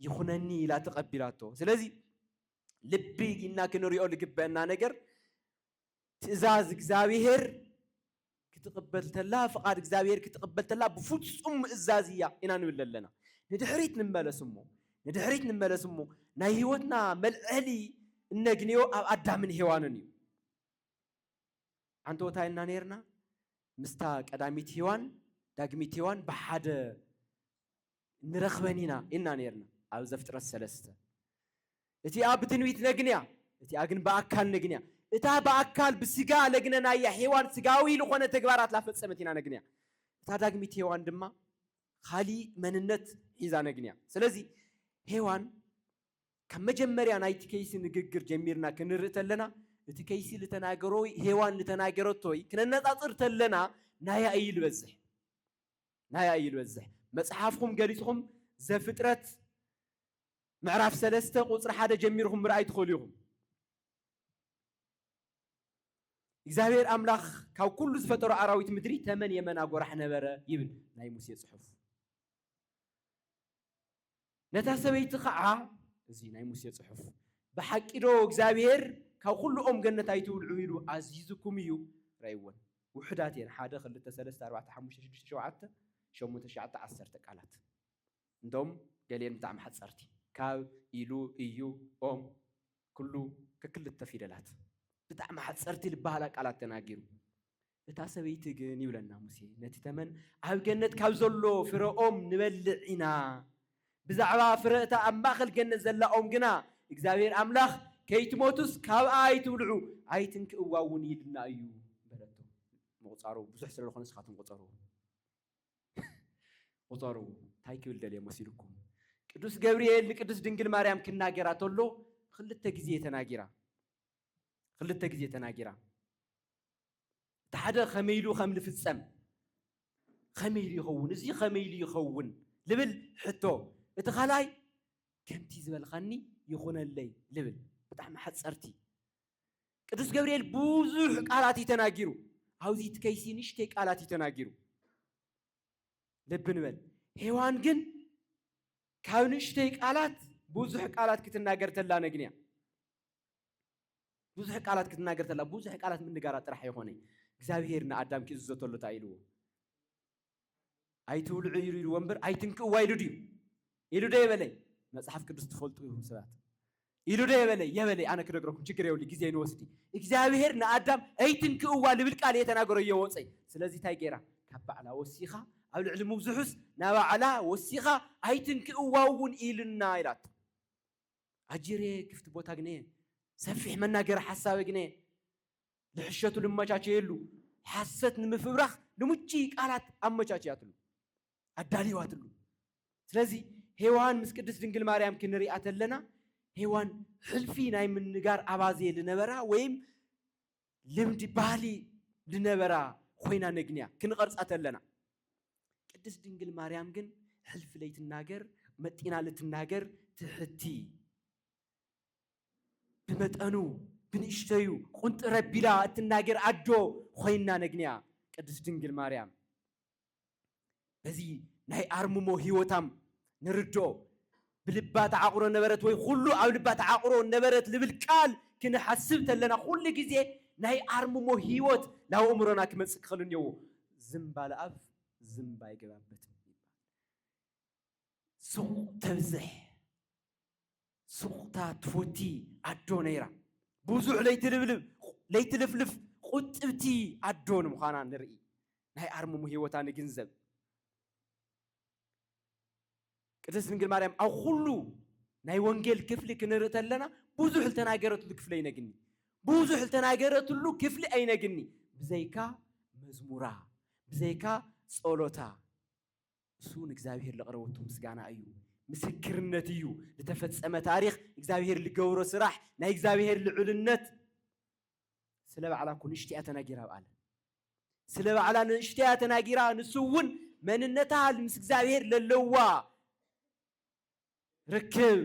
ይኹነኒ ኢላ ተቐቢላቶ ስለዚ ልቢ ኢልና ክንሪኦ ልግበእና ነገር ትእዛዝ እግዚኣብሔር ክትቕበል ተላ ፍቓድ እግዚኣብሔር ክትቕበል ተላ ብፍጹም ምእዛዝ እያ ኢና ንብል ኣለና ንድሕሪት ንመለስ እሞ ንድሕሪት ንመለስ እሞ ናይ ህይወትና መልዐሊ እነግንዮ ኣብ ኣዳምን ሄዋንን እዩ ዓንተወታ ኢና ነርና ምስታ ቀዳሚት ሄዋን ዳግሚት ሄዋን ብሓደ ንረኽበን ኢና ኢልና ኔርና ኣብ ዘፍጥረት ሰለስተ። እቲኣ ብትንቢት ነግንያ እቲኣ ግን ብኣካል ነግንያ። እታ ብኣካል ብስጋ ለግነናያ ሔዋን ስጋዊ ልኾነ ተግባራት ላፈጸመት ኢና ነግንያ። እታ ዳግሚት ሔዋን ድማ ኻሊእ መንነት ሒዛ ነግንያ። ስለዚ ሔዋን ካብ መጀመርያ ናይቲ ከይሲ ንግግር ጀሚርና ክንርኢ ተለና እቲ ከይሲ ልተናገሮ ወይ ሔዋን ልተናገረቶ ወይ ክነነጻጽር ተለና ናያ እዩ ልበዝሕ። ናይ ኣይ በዝሕ መጽሓፍኹም ገሊጽኹም ዘፍጥረት ምዕራፍ ሰለስተ ቁጽሪ ሓደ ጀሚርኹም ምርኣይ ትኽእሉ ኢኹም። እግዚኣብሔር ኣምላኽ ካብ ኩሉ ዝፈጠሮ ኣራዊት ምድሪ ተመን የመና ጎራሕ ነበረ ይብል ናይ ሙሴ ጽሑፍ። ነታ ሰበይቲ ኸዓ እዚ ናይ ሙሴ ጽሑፍ ብሓቂዶ እግዚኣብሄር ካብ ኹሉ ኦም ገነት ኣይትብልዑ ኢሉ ኣዚዙኩም እዩ? ረኣይወን ውሑዳት እየን ሓደ ክልተ ሰለስተ ኣርባዕተ ሓሙሽተ ሽዱሽተ ሸውዓተ ሸሞንተ ትሽዓተ ዓሰርተ ቃላት እንቶም ገሊኤን ብጣዕሚ ሓጸርቲ ካብ ኢሉ እዩ ኦም ኩሉ ከክልተ ፊደላት ብጣዕሚ ሓጸርቲ ዝበሃላ ቃላት ተናጊሩ እታ ሰበይቲ ግን ይብለና ሙሴ ነቲ ተመን ኣብ ገነት ካብ ዘሎ ፍረ ኦም ንበልዕ ኢና፣ ብዛዕባ ፍረ እታ ኣብ ማእከል ገነት ዘላ ኦም ግና እግዚኣብሄር ኣምላኽ ከይትሞቱስ ካብኣ ኣይትብልዑ ኣይትንክእዋ እውን ኢሉና እዩ በለቶ። ምቑጻሩ ብዙሕ ስለ ዝኾነ ንስኻትኩም ቁጸርዎ ቁጸርዎ እንታይ ክብል ደልየ መሲልኩም ቅዱስ ገብርኤል ንቅዱስ ድንግል ማርያም ክናገራ ተሎ ክልተ ግዜ ተናጊራ ክልተ ግዜ ተናጊራ እቲ ሓደ ከመይ ኢሉ ከም ዝፍጸም ከመይ ኢሉ ይኸውን እዚ ከመይ ኢሉ ይኸውን ልብል ሕቶ እቲ ካልኣይ ከምቲ ዝበልካኒ ይኹነለይ ልብል ብጣዕሚ ሓጸርቲ ቅዱስ ገብርኤል ብዙሕ ቃላት እዩ ተናጊሩ ኣብዚ እቲ ከይሲ ንሽተይ ቃላት እዩ ተናጊሩ ልቢ ንበል ሄዋን ግን ካብ ንእሽተይ ቃላት ብዙሕ ቃላት ክትናገር ተላ ነግንያ ብዙሕ ቃላት ክትናገር ተላ ብዙሕ ቃላት ምንጋራ ጥራሕ የኾነ እግዚኣብሄር ንኣዳም ክእዝዞ ተሎ እንታይ ኢልዎ ኣይትብልዑ ኢሉ ኢልዎ እምበር ኣይትንክእዋ ኢሉ ድዩ ኢሉ ዶ የበለይ መፅሓፍ ቅዱስ ትፈልጡ ኢኹም ሰባት ኢሉ ዶ የበለይ የበለይ ኣነ ክነግረኩም ችግር የብሉ ግዜ ንወስዲ እግዚኣብሄር ንኣዳም ኣይትንክእዋ ልብል ቃል እየ ተናገሮ እዮ ወፀይ ስለዚ እንታይ ገይራ ካብ ባዕላ ወሲኻ ኣብ ልዕሊ ምብዝሑስ ናባዕላ ወሲኻ ኣይትንክእዋ እውን ኢልና ኢላቶ ኣጅሬ ክፍት ቦታ ግኔ ሰፊሕ መናገሪ ሓሳበ ግኔ ልሕሸቱ ልመቻቸየሉ ሓሰት ንምፍብራኽ ልሙችይ ቃላት ኣመቻችያትሉ ኣዳልዋትሉ ስለዚ ሄዋን ምስ ቅድስት ድንግል ማርያም ክንሪኣ ተለና ሄዋን ሕልፊ ናይ ምንጋር ኣባዜ ልነበራ ወይም ልምዲ ባህሊ ልነበራ ኮይና ነግንያ ክንቐርጻ ተለና ቅድስት ድንግል ማርያም ግን ሕልፊ ለይትናገር መጢና ልትናገር ትሕቲ ብመጠኑ ብንእሽተዩ ቁንጥረ ቢላ እትናገር ኣዶ ኮይና ነግንያ ቅድስት ድንግል ማርያም በዚ ናይ ኣርምሞ ህይወታም ንርድኦ ብልባ ተዓቑሮ ነበረት ወይ ኹሉ ኣብ ልባ ተዓቑሮ ነበረት ልብል ቃል ክንሓስብ ተለና ኹሉ ግዜ ናይ ኣርምሞ ህይወት ናብ ኣእምሮና ክመጽእ ክኽእል እኔዎ። ዝምባል ኣፍ ዝምብ ኣይገባበትም ይባል። ሱቕ ተብዝሕ ሱቕታ ትፎቲ ኣዶ ነይራ። ብዙሕ ለይትልብልብ ለይትልፍልፍ ቁጥብቲ ኣዶ ንምዃና ንርኢ። ናይ ኣርምሞ ህይወታ ንግንዘብ። ቅድስት ድንግል ማርያም ኣብ ኩሉ ናይ ወንጌል ክፍሊ ክንርኢ ተለና ብዙሕ ዝተናገረትሉ ክፍሊ ኣይነግኒ ብዙሕ ዝተናገረትሉ ክፍሊ ኣይነግኒ ብዘይካ መዝሙራ ብዘይካ ጸሎታ እሱ ንእግዚኣብሔር ለቕረበቱ ምስጋና እዩ ምስክርነት እዩ ዝተፈጸመ ታሪክ እግዚኣብሔር ልገብሮ ስራሕ ናይ እግዚኣብሔር ልዑልነት ስለ ባዕላ እኮ ንእሽተያ ተናጊራ በኣለ ስለ ባዕላ ንእሽተያ ተናጊራ ንሱ እውን መንነታ ምስ እግዚኣብሔር ለለዋ ርክብ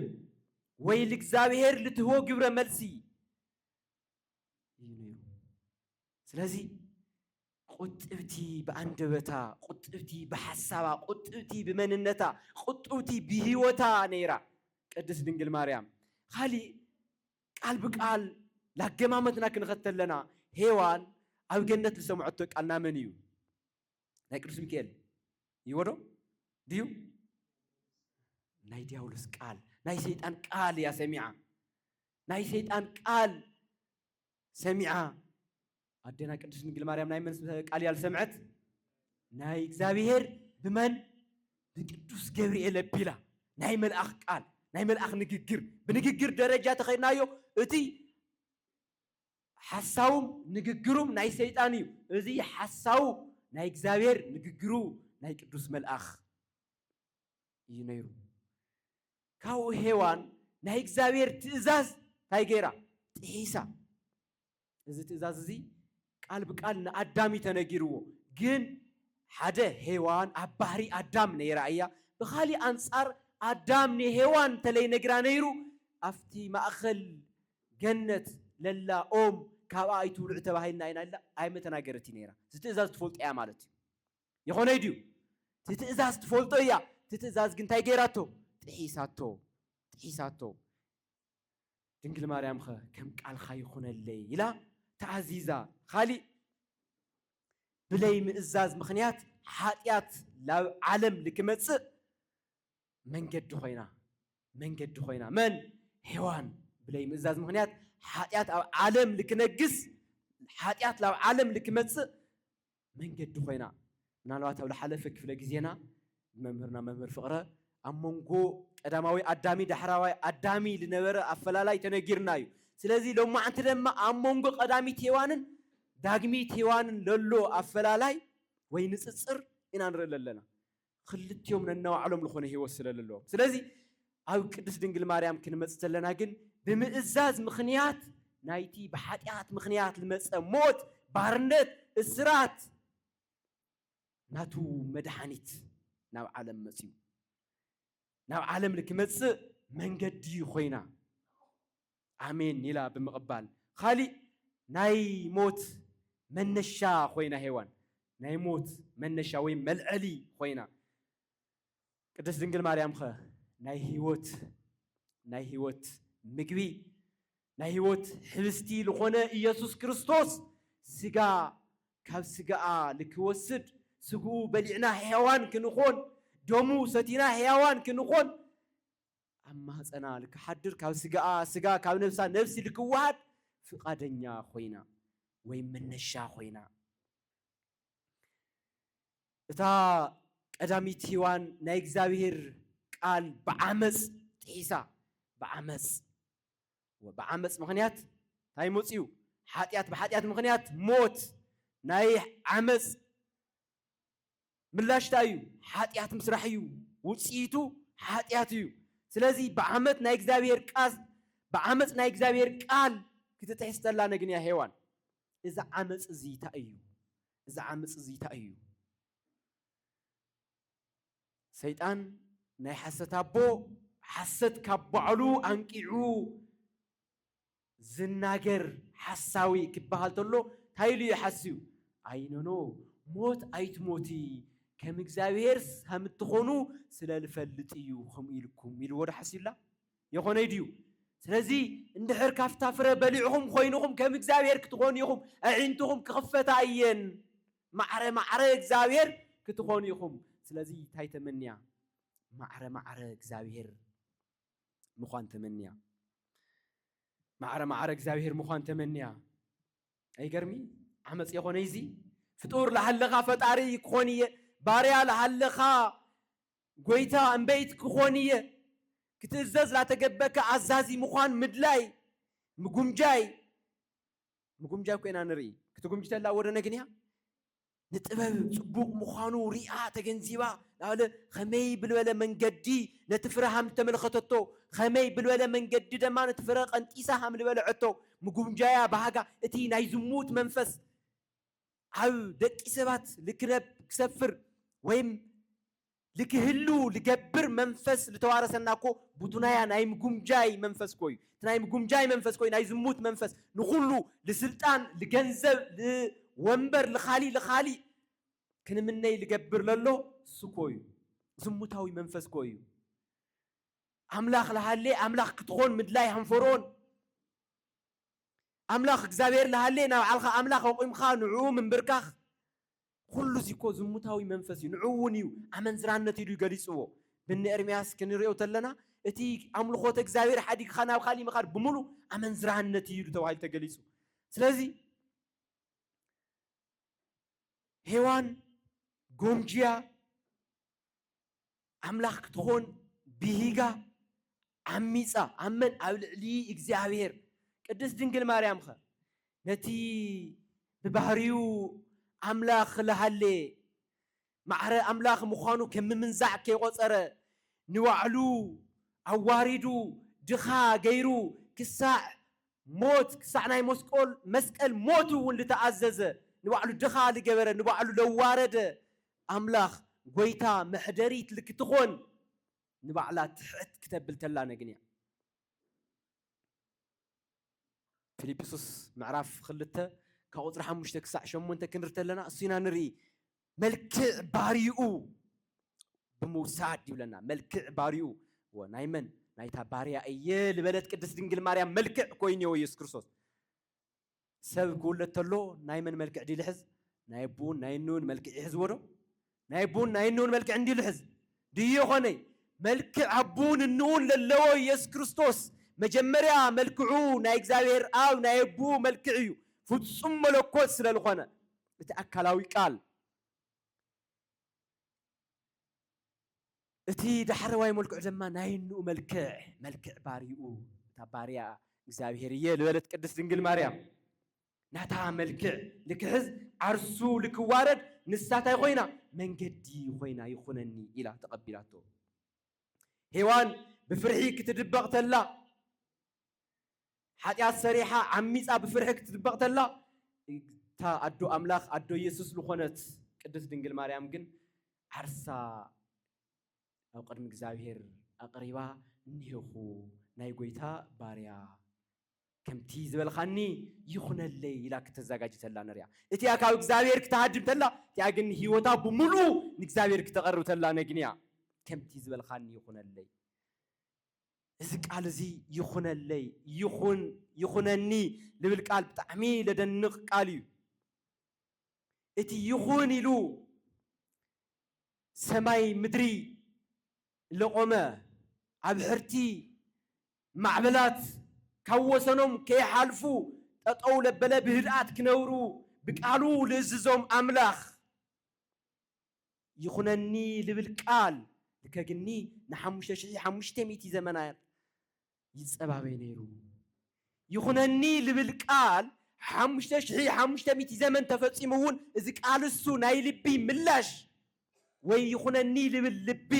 ወይ ልእግዚኣብሔር ልትህቦ ግብረ መልሲ እዩ ነይሩ ስለዚ ቁጥብቲ ብኣንደበታ ቁጥብቲ ብሓሳባ ቁጥብቲ ብመንነታ ቁጥብቲ ብሂወታ ነይራ ቅድስት ድንግል ማርያም ካሊእ ቃል ብቃል ላገማመትና ክንኸተለና ሄዋን ኣብ ገነት ልሰምዐቶ ቃል ናመን እዩ ናይ ቅዱስ ሚካኤል ይወዶ ድዩ ናይ ዲያብሎስ ቃል ናይ ሰይጣን ቃል እያ ሰሚዓ ናይ ሰይጣን ቃል ሰሚዓ ኣዴና ቅድስት ድንግል ማርያም ናይ መን ቃል እያ ዝሰምዐት? ናይ እግዚኣብሔር ብመን ብቅዱስ ገብርኤል ኣቢላ ናይ መልኣኽ ቃል ናይ መልኣኽ ንግግር ብንግግር ደረጃ ተኸድናዮ እቲ ሓሳውም ንግግሩም ናይ ሰይጣን እዩ እዚ ሓሳው ናይ እግዚኣብሔር ንግግሩ ናይ ቅዱስ መልኣኽ እዩ ነይሩ ካብኡ ሄዋን ናይ እግዚኣብሔር ትእዛዝ እንታይ ገይራ ጥሒሳ እዚ ትእዛዝ እዚ ቃል ብቃል ንኣዳም እዩ ተነጊርዎ ግን ሓደ ሄዋን ኣብ ባህሪ ኣዳም ነይራ እያ ብካሊእ ኣንጻር ኣዳም ንሄዋን እንተለይ ነግራ ነይሩ ኣብቲ ማእከል ገነት ለላ ኦም ካብኣ ኣይትብልዑ ተባሂልና ኢና ኢላ ኣይመተናገረትን ነይራ እቲ ትእዛዝ ትፈልጦ እያ ማለት እዩ ይኮነይ ድዩ እቲ ትእዛዝ ትፈልጦ እያ እቲ ትእዛዝ ግን እንታይ ገይራቶ ጥሒሳቶ ጥሒሳቶ ድንግል ማርያም ኸ ከም ቃልኻ ይኹነለይ ኢላ ተኣዚዛ። ኻሊእ ብለይ ምእዛዝ ምኽንያት ሓጢኣት ላብ ዓለም ልክመጽእ መንገዲ ኾይና መንገዲ ኾይና መን ሔዋን ብለይ ምእዛዝ ምኽንያት ሓጢኣት ኣብ ዓለም ልክነግስ ሓጢኣት ላብ ዓለም ልክመጽእ መንገዲ ኮይና ምናልባት ኣብ ልሓለፈ ክፍለ ግዜና ብመምህርና መምህር ፍቕረ ኣብ መንጎ ቀዳማዊ ኣዳሚ ዳሕራዋይ ኣዳሚ ልነበረ ኣፈላላይ ተነጊርና እዩ። ስለዚ ሎማዕንቲ ደማ ኣብ መንጎ ቀዳሚት ሄዋንን ዳግሚት ሄዋንን ለሎ ኣፈላላይ ወይ ንጽጽር ኢና ንርኢ ለለና። ኽልቲኦም ነናይባዕሎም ልኾነ ህይወት ስለ ለለዎም ስለዚ ኣብ ቅድስት ድንግል ማርያም ክንመጽእ ተለና ግን ብምእዛዝ ምኽንያት ናይቲ ብሓጢኣት ምኽንያት ልመጸ ሞት ባርነት እስራት ናቱ መድሓኒት ናብ ዓለም መጽዩ ናብ ዓለም ልክመጽእ መንገዲ ኾይና ኣሜን ኢላ ብምቕባል ኻሊእ ናይ ሞት መነሻ ኾይና ሄዋን ናይ ሞት መነሻ ወይ መልዐሊ ኾይና ቅድስት ድንግል ማርያም ኸ ናይ ህይወት ናይ ህይወት ምግቢ ናይ ህይወት ሕብስቲ ልኾነ ኢየሱስ ክርስቶስ ስጋ ካብ ስጋኣ ልክወስድ ስግኡ በሊዕና ሕያዋን ክንኾን ደሙ ሰቲና ሕያዋን ክንኾን ኣብ ማህጸና ልክሓድር ካብ ስጋኣ ስጋ ካብ ነብሳ ነብሲ ልክወሃድ ፍቃደኛ ኮይና ወይ መነሻ ኮይና እታ ቀዳሚት ሂዋን ናይ እግዚኣብሔር ቃል ብዓመጽ ጥሒሳ ብዓመጽ ብዓመጽ ምክንያት እንታይ መጽዩ ሓጢኣት ብሓጢኣት ምክንያት ሞት ናይ ዓመጽ ምላሽ ታይ እዩ? ሓጢኣት ምስራሕ እዩ። ውፅኢቱ ሓጢኣት እዩ። ስለዚ ብዓመት ናይ እግዚኣብሔር ቃል ብዓመፅ ናይ እግዚኣብሔር ቃል ክትጥሕስ ተላ ነግንያ ሄዋን እዚ ዓመፅ እዚ ታይ እዩ? እዚ ዓመፅ እዚ ታይ እዩ? ሰይጣን ናይ ሓሰት ኣቦ ሓሰት ካብ ባዕሉ ኣንቂዑ ዝናገር ሓሳዊ ክበሃል ተሎ ታይ ኢሉ እዩ ሓስዩ ኣይ ኖኖ ሞት ኣይትሞቲ ከም እግዚኣብሔር ሀምትኾኑ ስለልፈልጥ እዩ ኸምኡ ኢልኩም ኢልዎ ዶ ሓስዩላ የኾነይ ድዩ ስለዚ እንድሕር ካፍታ ፍረ በሊዕኹም ኾይንኹም ከም እግዚኣብሔር ክትኾኑ ኢኹም ኣዒንትኹም ክኽፈታ እየን ማዕረ ማዕረ እግዚኣብሔር ክትኾኑ ኢኹም ስለዚ ታይ ተመንያ ማዕረ ማዕረ እግዚኣብሔር ምዃን ተመንያ ማዕረ ማዕረ እግዚኣብሔር ምዃን ተመንያ ኣይገርሚ ዓመፅ የኾነ እዚ ፍጡር ለሃለኻ ፈጣሪ ክኾን እየ ባርያ ለሃለኻ ጎይታ እምበይት ክኾን እየ ክትእዘዝ ላተገበከ ኣዛዚ ምዃን ምድላይ ምጉምጃይ ምጉምጃይ ኮይና ንርኢ ክትጉምጅተላ ወደነ ግን እያ ንጥበብ ጽቡቕ ምዃኑ ርእያ ተገንዚባ ናበለ ኸመይ ብልበለ መንገዲ ነቲ ፍረ ሃም ተመልኸተቶ፣ ኸመይ ብልበለ መንገዲ ደማ ነቲ ፍረ ቐንጢሳ ሃም ልበልዐቶ፣ ምጉምጃያ ባህጋ እቲ ናይ ዝሙት መንፈስ ኣብ ደቂሰባት ልክነብ ክሰፍር ወይም ልክህሉ ልገብር መንፈስ ልተዋረሰና እኮ ቡቱናያ ናይ ምጉምጃይ መንፈስ እኮ እዩ። እቲ ናይ ምጉምጃይ መንፈስ እኮ እዩ ናይ ዝሙት መንፈስ ንኹሉ ልስልጣን ልገንዘብ ልወንበር ልኻሊእ ልኻሊእ ክንምነይ ልገብር ለሎ እሱ እኮ እዩ ዝሙታዊ መንፈስ እኮ እዩ። ኣምላኽ ልሃሌ ኣምላኽ ክትኾን ምድላይ ሃንፈርኦን ኣምላኽ እግዚኣብሔር ልሃሌ ናብዓልኻ ኣምላኽ ኣቑምካ ንዕኡ ምንብርካኽ ኹሉ እዙይ እኮ ዝሙታዊ መንፈስ እዩ፣ ንዕኡ እውን እዩ ኣመንዝራነት ኢሉ እዩ ገሊፅዎ። ብኒ ኤርምያስ ክንርእዮ ተለና እቲ ኣምልኾተ እግዚኣብሔር ሓዲግኻ ናብ ካሊእ ምኻድ ብምሉእ ኣመንዝራነት እዩ ተባሂሉ ተገሊፁ። ስለዚ ሔዋን ጎምጅያ ኣምላኽ ክትኾን ብሂጋ ዓሚጻ ኣብ መን ኣብ ልዕሊ እግዚኣብሔር ቅድስት ድንግል ማርያም ኸ ነቲ ብባህሪኡ ኣምላኽ ልሃሌ ማዕረ ኣምላኽ ምዃኑ ከም ምምንዛዕ ከይቆጸረ ንባዕሉ ኣዋሪዱ ድኻ ገይሩ ክሳዕ ሞት ክሳዕ ናይ ሞስቆል መስቀል ሞት እውን ልተኣዘዘ ንባዕሉ ድኻ ልገበረ ንባዕሉ ለዋረደ ኣምላኽ ጎይታ መሕደሪት ልክትኾን ንባዕላ ትሕት ክተብል ተላ ነግን እያ። ፊልጵሱስ ምዕራፍ ክልተ ካብ ቁጽሪ ሓሙሽተ ክሳዕ ሸሞንተ ክንሪ ተለና እሱ ኢና ንርኢ መልክዕ ባርይኡ ብምውሳድ ይብለና። መልክዕ ባርይኡ እወ ናይ መን ናይታ ባርያ እየ ልበለት ቅድስት ድንግል ማርያም መልክዕ ኮይኑዮ ኢየሱስ ክርስቶስ ሰብ ክውለድ ተሎ ናይ መን መልክዕ ድዩ ልሕዝ ናይ ኣቡን ናይ እኑን መልክዕ ይሕዝዎ ዶ ናይ ኣቡን ናይ እኑን መልክዕ እንድዩ ልሕዝ ድዩ የኾነይ መልክዕ ኣቡን እኑኡን ለለዎ ኢየሱስ ክርስቶስ መጀመርያ መልክዑ ናይ እግዚኣብሔር ኣብ ናይ ኣቡኡ መልክዕ እዩ ፍጹም መለኮት ስለ ልኾነ እቲ ኣካላዊ ቃል እቲ ዳሕረዋይ መልክዑ ድማ ናይ እንኡ መልክዕ፣ መልክዕ ባርይኡ፣ እታ ባርያ እግዚኣብሔር እየ ልበለት ቅድስት ድንግል ማርያም፣ ናታ መልክዕ ልክሕዝ ዓርሱ ልክዋረድ ንሳ ታይ ኾይና መንገዲ ኾይና ይኹነኒ ኢላ ተቐቢላቶ። ሄዋን ብፍርሒ ክትድበቕ ተላ፣ ሓጢኣት ሰሪሓ ዓሚጻ ብፍርሒ ክትድበቕ ተላ እታ ኣዶ ኣምላኽ ኣዶ ኢየሱስ ልኾነት ቅድስት ድንግል ማርያም ግን ዓርሳ ኣብ ቅድሚ እግዚኣብሔር ኣቕሪባ እኔኹ ናይ ጐይታ ባርያ ከምቲ ዝበልኻኒ ይኹነለይ ኢላ ክተዘጋጅ ተላ ንሪኣ እቲኣ ካብ እግዚኣብሔር ክተሃድም ተላ እቲኣ ግን ህይወታ ብምሉኡ ንእግዚኣብሔር ክተቐርብ ተላ ነግንያ ከምቲ ዝበልኻኒ ይኹነለይ እዚ ቃል እዚ ይኹነለይ ይኹን ይኹነኒ ልብል ቃል ብጣዕሚ ለደንቕ ቃል እዩ። እቲ ይኹን ኢሉ ሰማይ ምድሪ ለቖመ ኣብሕርቲ ማዕበላት ካብ ወሰኖም ከይሓልፉ ጠጠው ለበለ ብህድኣት ክነብሩ ብቃሉ ልእዝዞም ኣምላኽ። ይኹነኒ ልብል ቃል ልከግኒ ንሓሙሽተ ሽሕይ ሓሙሽተ ሚእቲ ዘመናት ይጸባበይ ነይሩ። ይኹነኒ ልብል ቃል ሓሙሽተ ሽሕይ ሓሙሽተ ሚእቲ ዘመን ተፈጺሙ እውን እዚ ቃል እሱ ናይ ልቢ ምላሽ ወይ ይኹነኒ ልብል ልቢ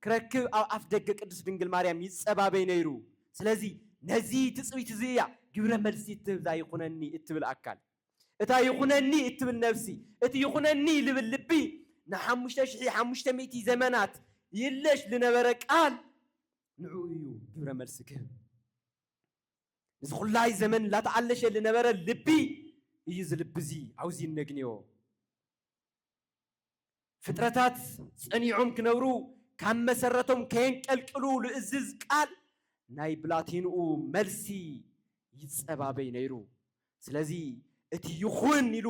ክረክብ ኣብ ኣፍ ደገ ቅድስት ድንግል ማርያም ይጸባበይ ነይሩ። ስለዚ ነዚ ትጽቢት እዚ እያ ግብረ መልሲ እትህብ እዛ ይኹነኒ እትብል ኣካል። እታ ይኹነኒ እትብል ነፍሲ፣ እቲ ይኹነኒ ልብል ልቢ፣ ንሓሙሽተ ሽሕይ ሓሙሽተ ሚእቲ ዘመናት ይለሽ ልነበረ ቃል፣ ንዕኡ እዩ ግብረ መልሲ ክህብ። ንዚ ኩላይ ዘመን ላተኣለሸ ልነበረ ልቢ እዩ እዚ ልቢዚ ኣውዚ እነግንዮ። ፍጥረታት ጸኒዖም ክነብሩ ካብ መሰረቶም ከየንቀልቅሉ ልእዝዝ ቃል ናይ ብላቴንኡ መልሲ ይጸባበይ ነይሩ። ስለዚ እቲ ይኹን ኢሉ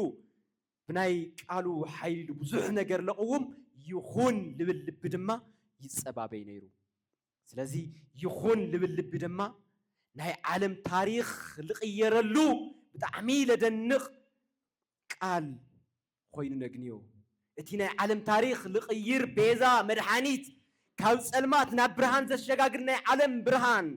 ብናይ ቃሉ ሓይሊ ልብዙሕ ነገር ለቕውም ይኹን ልብል ልቢ ድማ ይጸባበይ ነይሩ። ስለዚ ይኹን ልብል ልቢ ድማ ናይ ዓለም ታሪኽ ልቕየረሉ ብጣዕሚ ለደንቕ ቃል ኾይኑ ነግንዮ። እቲ ናይ ዓለም ታሪኽ ልቕይር ቤዛ መድሓኒት ካብ ፀልማት ናብ ብርሃን ዘሸጋግር ናይ ዓለም ብርሃን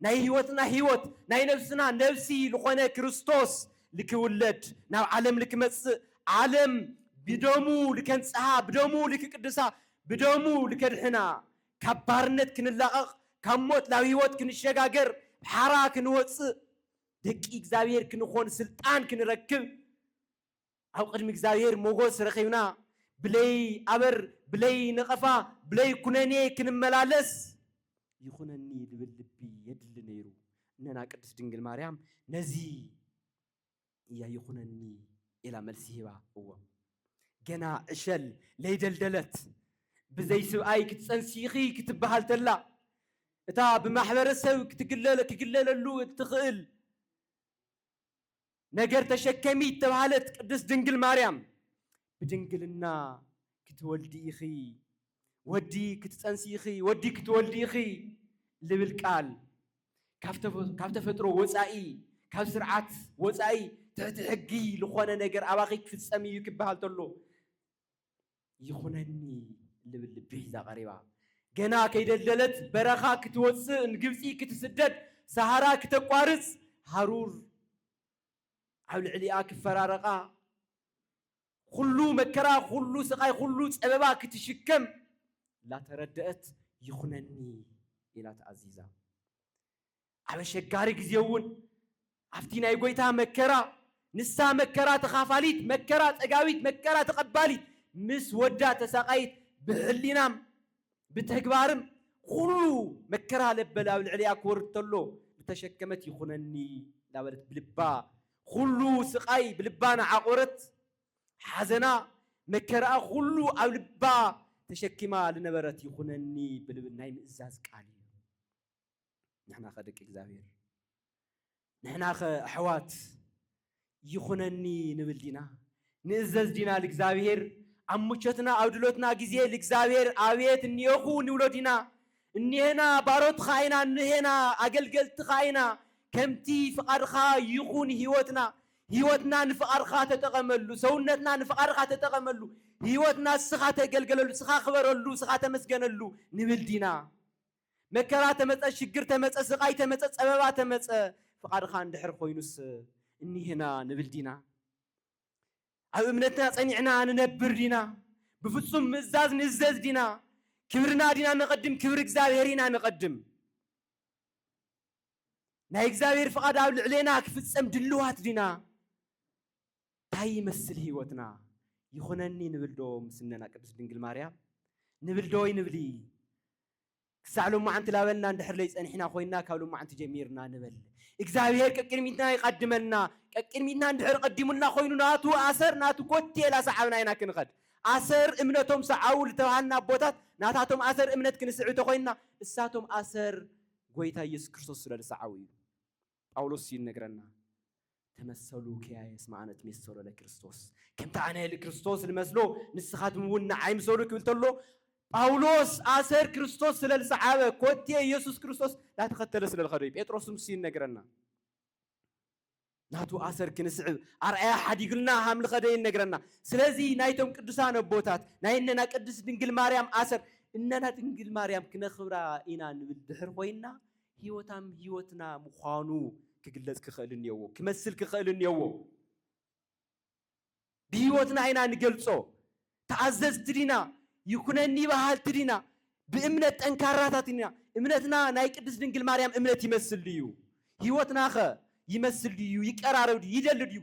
ናይ ህይወትና ህይወት ናይ ነብስና ነብሲ ልኾነ ክርስቶስ ልክውለድ ናብ ዓለም ልክመፅእ ዓለም ብደሙ ልከንፅሃ ብደሙ ልክቅድሳ ብደሙ ልከድሕና ካብ ባርነት ክንላቐቕ ካብ ሞት ናብ ህይወት ክንሸጋገር ሓራ ክንወፅእ ደቂ እግዚኣብሔር ክንኾን ስልጣን ክንረክብ ኣብ ቅድሚ እግዚኣብሔር ሞጎስ ረኺብና ብለይ ኣበር ብለይ ነቐፋ ብለይ ኩነኔ ክንመላለስ ይኹነኒ ልብል ልቢ የድሊ ነይሩ እነና ቅድስት ድንግል ማርያም ነዚ እያ ይኹነኒ ኢላ መልሲ ሂባ እዎ ገና ዕሸል ለይደልደለት ብዘይ ስብኣይ ክትፀንሲ ኢኺ ክትበሃል ተላ እታ ብማሕበረሰብ ክትግለለ ክግለለሉ እትኽእል ነገር ተሸከሚ እተባህለት ቅድስት ድንግል ማርያም ብድንግልና ክትወልዲ ኢኺ ወዲ ክትጸንሲ ኢኺ ወዲ ክትወልዲ ኢኺ ልብል ቃል ካብ ተፈጥሮ ወጻኢ ካብ ስርዓት ወጻኢ ትሕቲ ሕጊ ልኾነ ነገር ኣባኺ ክፍጸም እዩ ክበሃል ተሎ ይኹነኒ ልብል ልቢ ሒዛ ቀሪባ ገና ከይደልደለት በረኻ ክትወፅእ ንግብፂ ክትስደድ ሰሃራ ክተቋርፅ ሃሩር ኣብ ልዕሊኣ ክፈራረቓ ኩሉ መከራ ኩሉ ስቓይ ኩሉ ፀበባ ክትሽከም ላተረደአት ይኹነኒ ኢላ ተኣዚዛ ኣብ ኣሸጋሪ ግዜ'ውን ኣብቲ ናይ ጐይታ መከራ ንሳ መከራ ተኻፋሊት፣ መከራ ጸጋዊት፣ መከራ ተቐባሊት፣ ምስ ወዳ ተሳቓይት፣ ብሕሊናም ብተግባርም ኹሉ መከራ ለበዳ ኣብ ልዕሊኣ ክወርድ ተሎ ዝተሸከመት ይኹነኒ እንዳበለት ብልባ ኹሉ ስቓይ ብልባ ናዓቖረት ሓዘና መከራኣ ኹሉ ኣብ ልባ ተሸኪማ ልነበረት ይኹነኒ ብልብ ናይ ምእዛዝ ቃል እዩ። ንሕናኸ ደቂ እግዚኣብሔር ንሕናኸ ኣሕዋት ይኹነኒ ንብል ዲና ንእዘዝ ዲና ልእግዚኣብሔር ኣብ ሙቾትና ኣብ ድሎትና ግዜ ልእግዚኣብሔር ኣብየት እኒኦኹ ንብሎ ዲና እኒሄና ባሮትኻ ኢና እኒሄና ኣገልገልትኻ ኢና ከምቲ ፍቓድኻ ይኹን ህይወትና ህይወትና ንፍቓድኻ ተጠቐመሉ ሰውነትና ንፍቓድኻ ተጠቐመሉ ህይወትና ስኻ ተገልገለሉ ስኻ ክበረሉ ስኻ ተመስገነሉ ንብል ዲና መከራ ተመጸ ሽግር ተመጸ ስቓይ ተመጸ ጸበባ ተመጸ ፍቓድኻ እንድሕር ኮይኑስ እኒህና ንብል ዲና? ኣብ እምነትና ጸኒዕና ንነብር ዲና? ብፍጹም ምእዛዝ ንእዘዝ ዲና? ክብርና ዲና ነቐድም ክብሪ እግዚኣብሔር ኢና ነቐድም? ናይ እግዚኣብሔር ፍቓድ ኣብ ልዕሌና ክፍጸም ድልዋት ዲና? ታይ ይመስል ህይወትና ይኹነኒ ንብል ዶ ምስ እነና ቅድስት ድንግል ማርያም ንብል ዶ ኣይንብሊ ክሳዕ ሎማዓንቲ ላበልና እንድሕር ለይፀኒሕና ኮይና ካብ ሎማዓንቲ ጀሚርና ንበል እግዚኣብሔር ቀቅድሚትና ይቀድመና ቀቅድሚትና እንድሕር ቀዲሙልና ኮይኑ ናቱ ኣሰር ናቱ ኮቴ ላሰዓብና ኢና ክንኸድ ኣሰር እምነቶም ሰዓቡ ልተብሃልና ኣቦታት ናታቶም ኣሰር እምነት ክንስዕብ ተኮይንና እሳቶም ኣሰር ጎይታ ኢየሱስ ክርስቶስ ስለልሰዓቡ እዩ ጳውሎስ ይነግረና፣ ተመሰሉ ኪያየ እስመ ኣነ እትሜሰሎ ለክርስቶስ፣ ከምቲ ኣነ ልክርስቶስ ልመስሎ ንስኻትም እውን ንዓይ ምሰሉ ክብል ተሎ፣ ጳውሎስ ኣሰር ክርስቶስ ስለ ልሰዓበ፣ ኮቴ ኢየሱስ ክርስቶስ ላተኸተለ ስለ ልኸደ እዩ። ጴጥሮስ ንሱ ይነግረና፣ ናቱ ኣሰር ክንስዕብ ኣርኣያ ሓዲጉልና ሃም ልኸደ ይነግረና። ስለዚ ናይቶም ቅዱሳን ኣቦታት ናይ እነና ቅድስት ድንግል ማርያም ኣሰር እነና ድንግል ማርያም ክነኽብራ ኢና ንብል ድሕር ኮይንና፣ ህይወታም ህይወትና ምዃኑ ክግለጽ ክኸእል እንየዎ፣ ክመስል ክኸእል እንየዎ። ብህይወትና ኢና ንገልጾ። ተኣዘዝቲ ዲና? ይኩነኒ በሃልቲ ዲና? ብእምነት ጠንካራታት ዲና? እምነትና ናይ ቅድስት ድንግል ማርያም እምነት ይመስል ድዩ? ህይወትናኸ ይመስል ድዩ? ይቀራረብ ድዩ? ይደሊ ድዩ?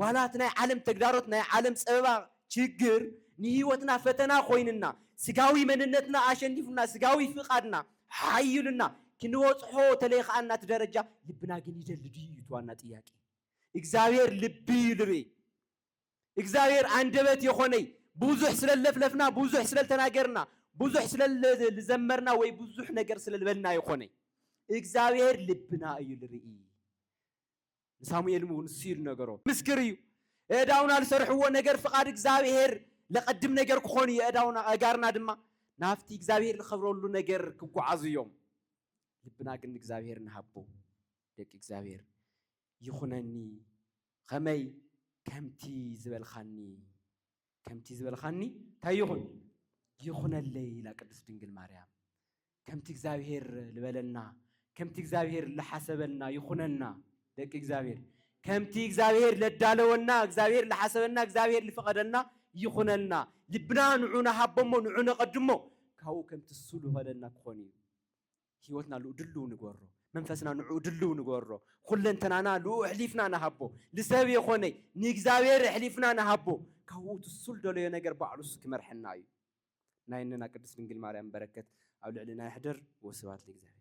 ዋላ እቲ ናይ ዓለም ተግዳሮት ናይ ዓለም ጸበባ ችግር ንህይወትና ፈተና ኮይንና ስጋዊ መንነትና ኣሸኒፉና ስጋዊ ፍቃድና ሓይሉና ክንበጽሖ ተለይኻኣና እቲ ደረጃ ልብና ግን ይደሊ ድዩ እዩ እቲ ዋና ጥያቄ እግዚኣብሔር ልቢ እዩ ልርኢ እግዚኣብሔር ኣንደበት የኾነይ ብዙሕ ስለለፍለፍና ብዙሕ ስለልተናገርና ብዙሕ ስለልዘመርና ወይ ብዙሕ ነገር ስለልበልና የኾነይ እግዚኣብሔር ልብና እዩ ልርኢ ንሳሙኤል እውን ንሱ ኢሉ ነገሮ። ምስክር እዩ። እእዳውና ልሰርሕዎ ነገር ፍቓድ እግዚኣብሔር ለቐድም ነገር ክኾኑ እዩ፣ እእዳውና ኣእጋርና ድማ ናብቲ እግዚኣብሔር ልኸብረሉ ነገር ክጓዓዙ እዮም። ልብና ግን ንእግዚኣብሔር ንሃቦ ደቂ እግዚኣብሔር። ይኹነኒ ኸመይ ከምቲ ዝበልኻኒ። ከምቲ ዝበልኻኒ እንታይ ይኹን ይኹነለይ ኢላ ቅድስት ድንግል ማርያም። ከምቲ እግዚኣብሔር ዝበለና ከምቲ እግዚኣብሔር ዝሓሰበልና ይኹነና ደቂ እግዚኣብሔር። ከምቲ እግዚኣብሔር ለዳለወና እግዚኣብሔር ዝሓሰበና እግዚኣብሔር ዝፈቐደልና ይኹነልና። ልብና ንዑ ንሃቦሞ ንዑ ነቐድሞ ካብኡ ከምቲ እሱ ዝኸለልና ክኾን እዩ። ህይወትና ልኡ ድልው ንገሮ መንፈስና ንዕኡ ድልው ንገሮ ኩለንተናና ልኡ ኣሕሊፍና ንሃቦ ንሰብ የኾነ ንእግዚኣብሔር ኣሕሊፍና ንሃቦ ካብኡ ትሱል ደለዮ ነገር ባዕሉ ክመርሐና እዩ ናይ እነና ቅድስት ድንግል ማርያም በረከት ኣብ ልዕልና ይሕደር ወስብሐት ለእግዚኣብሔር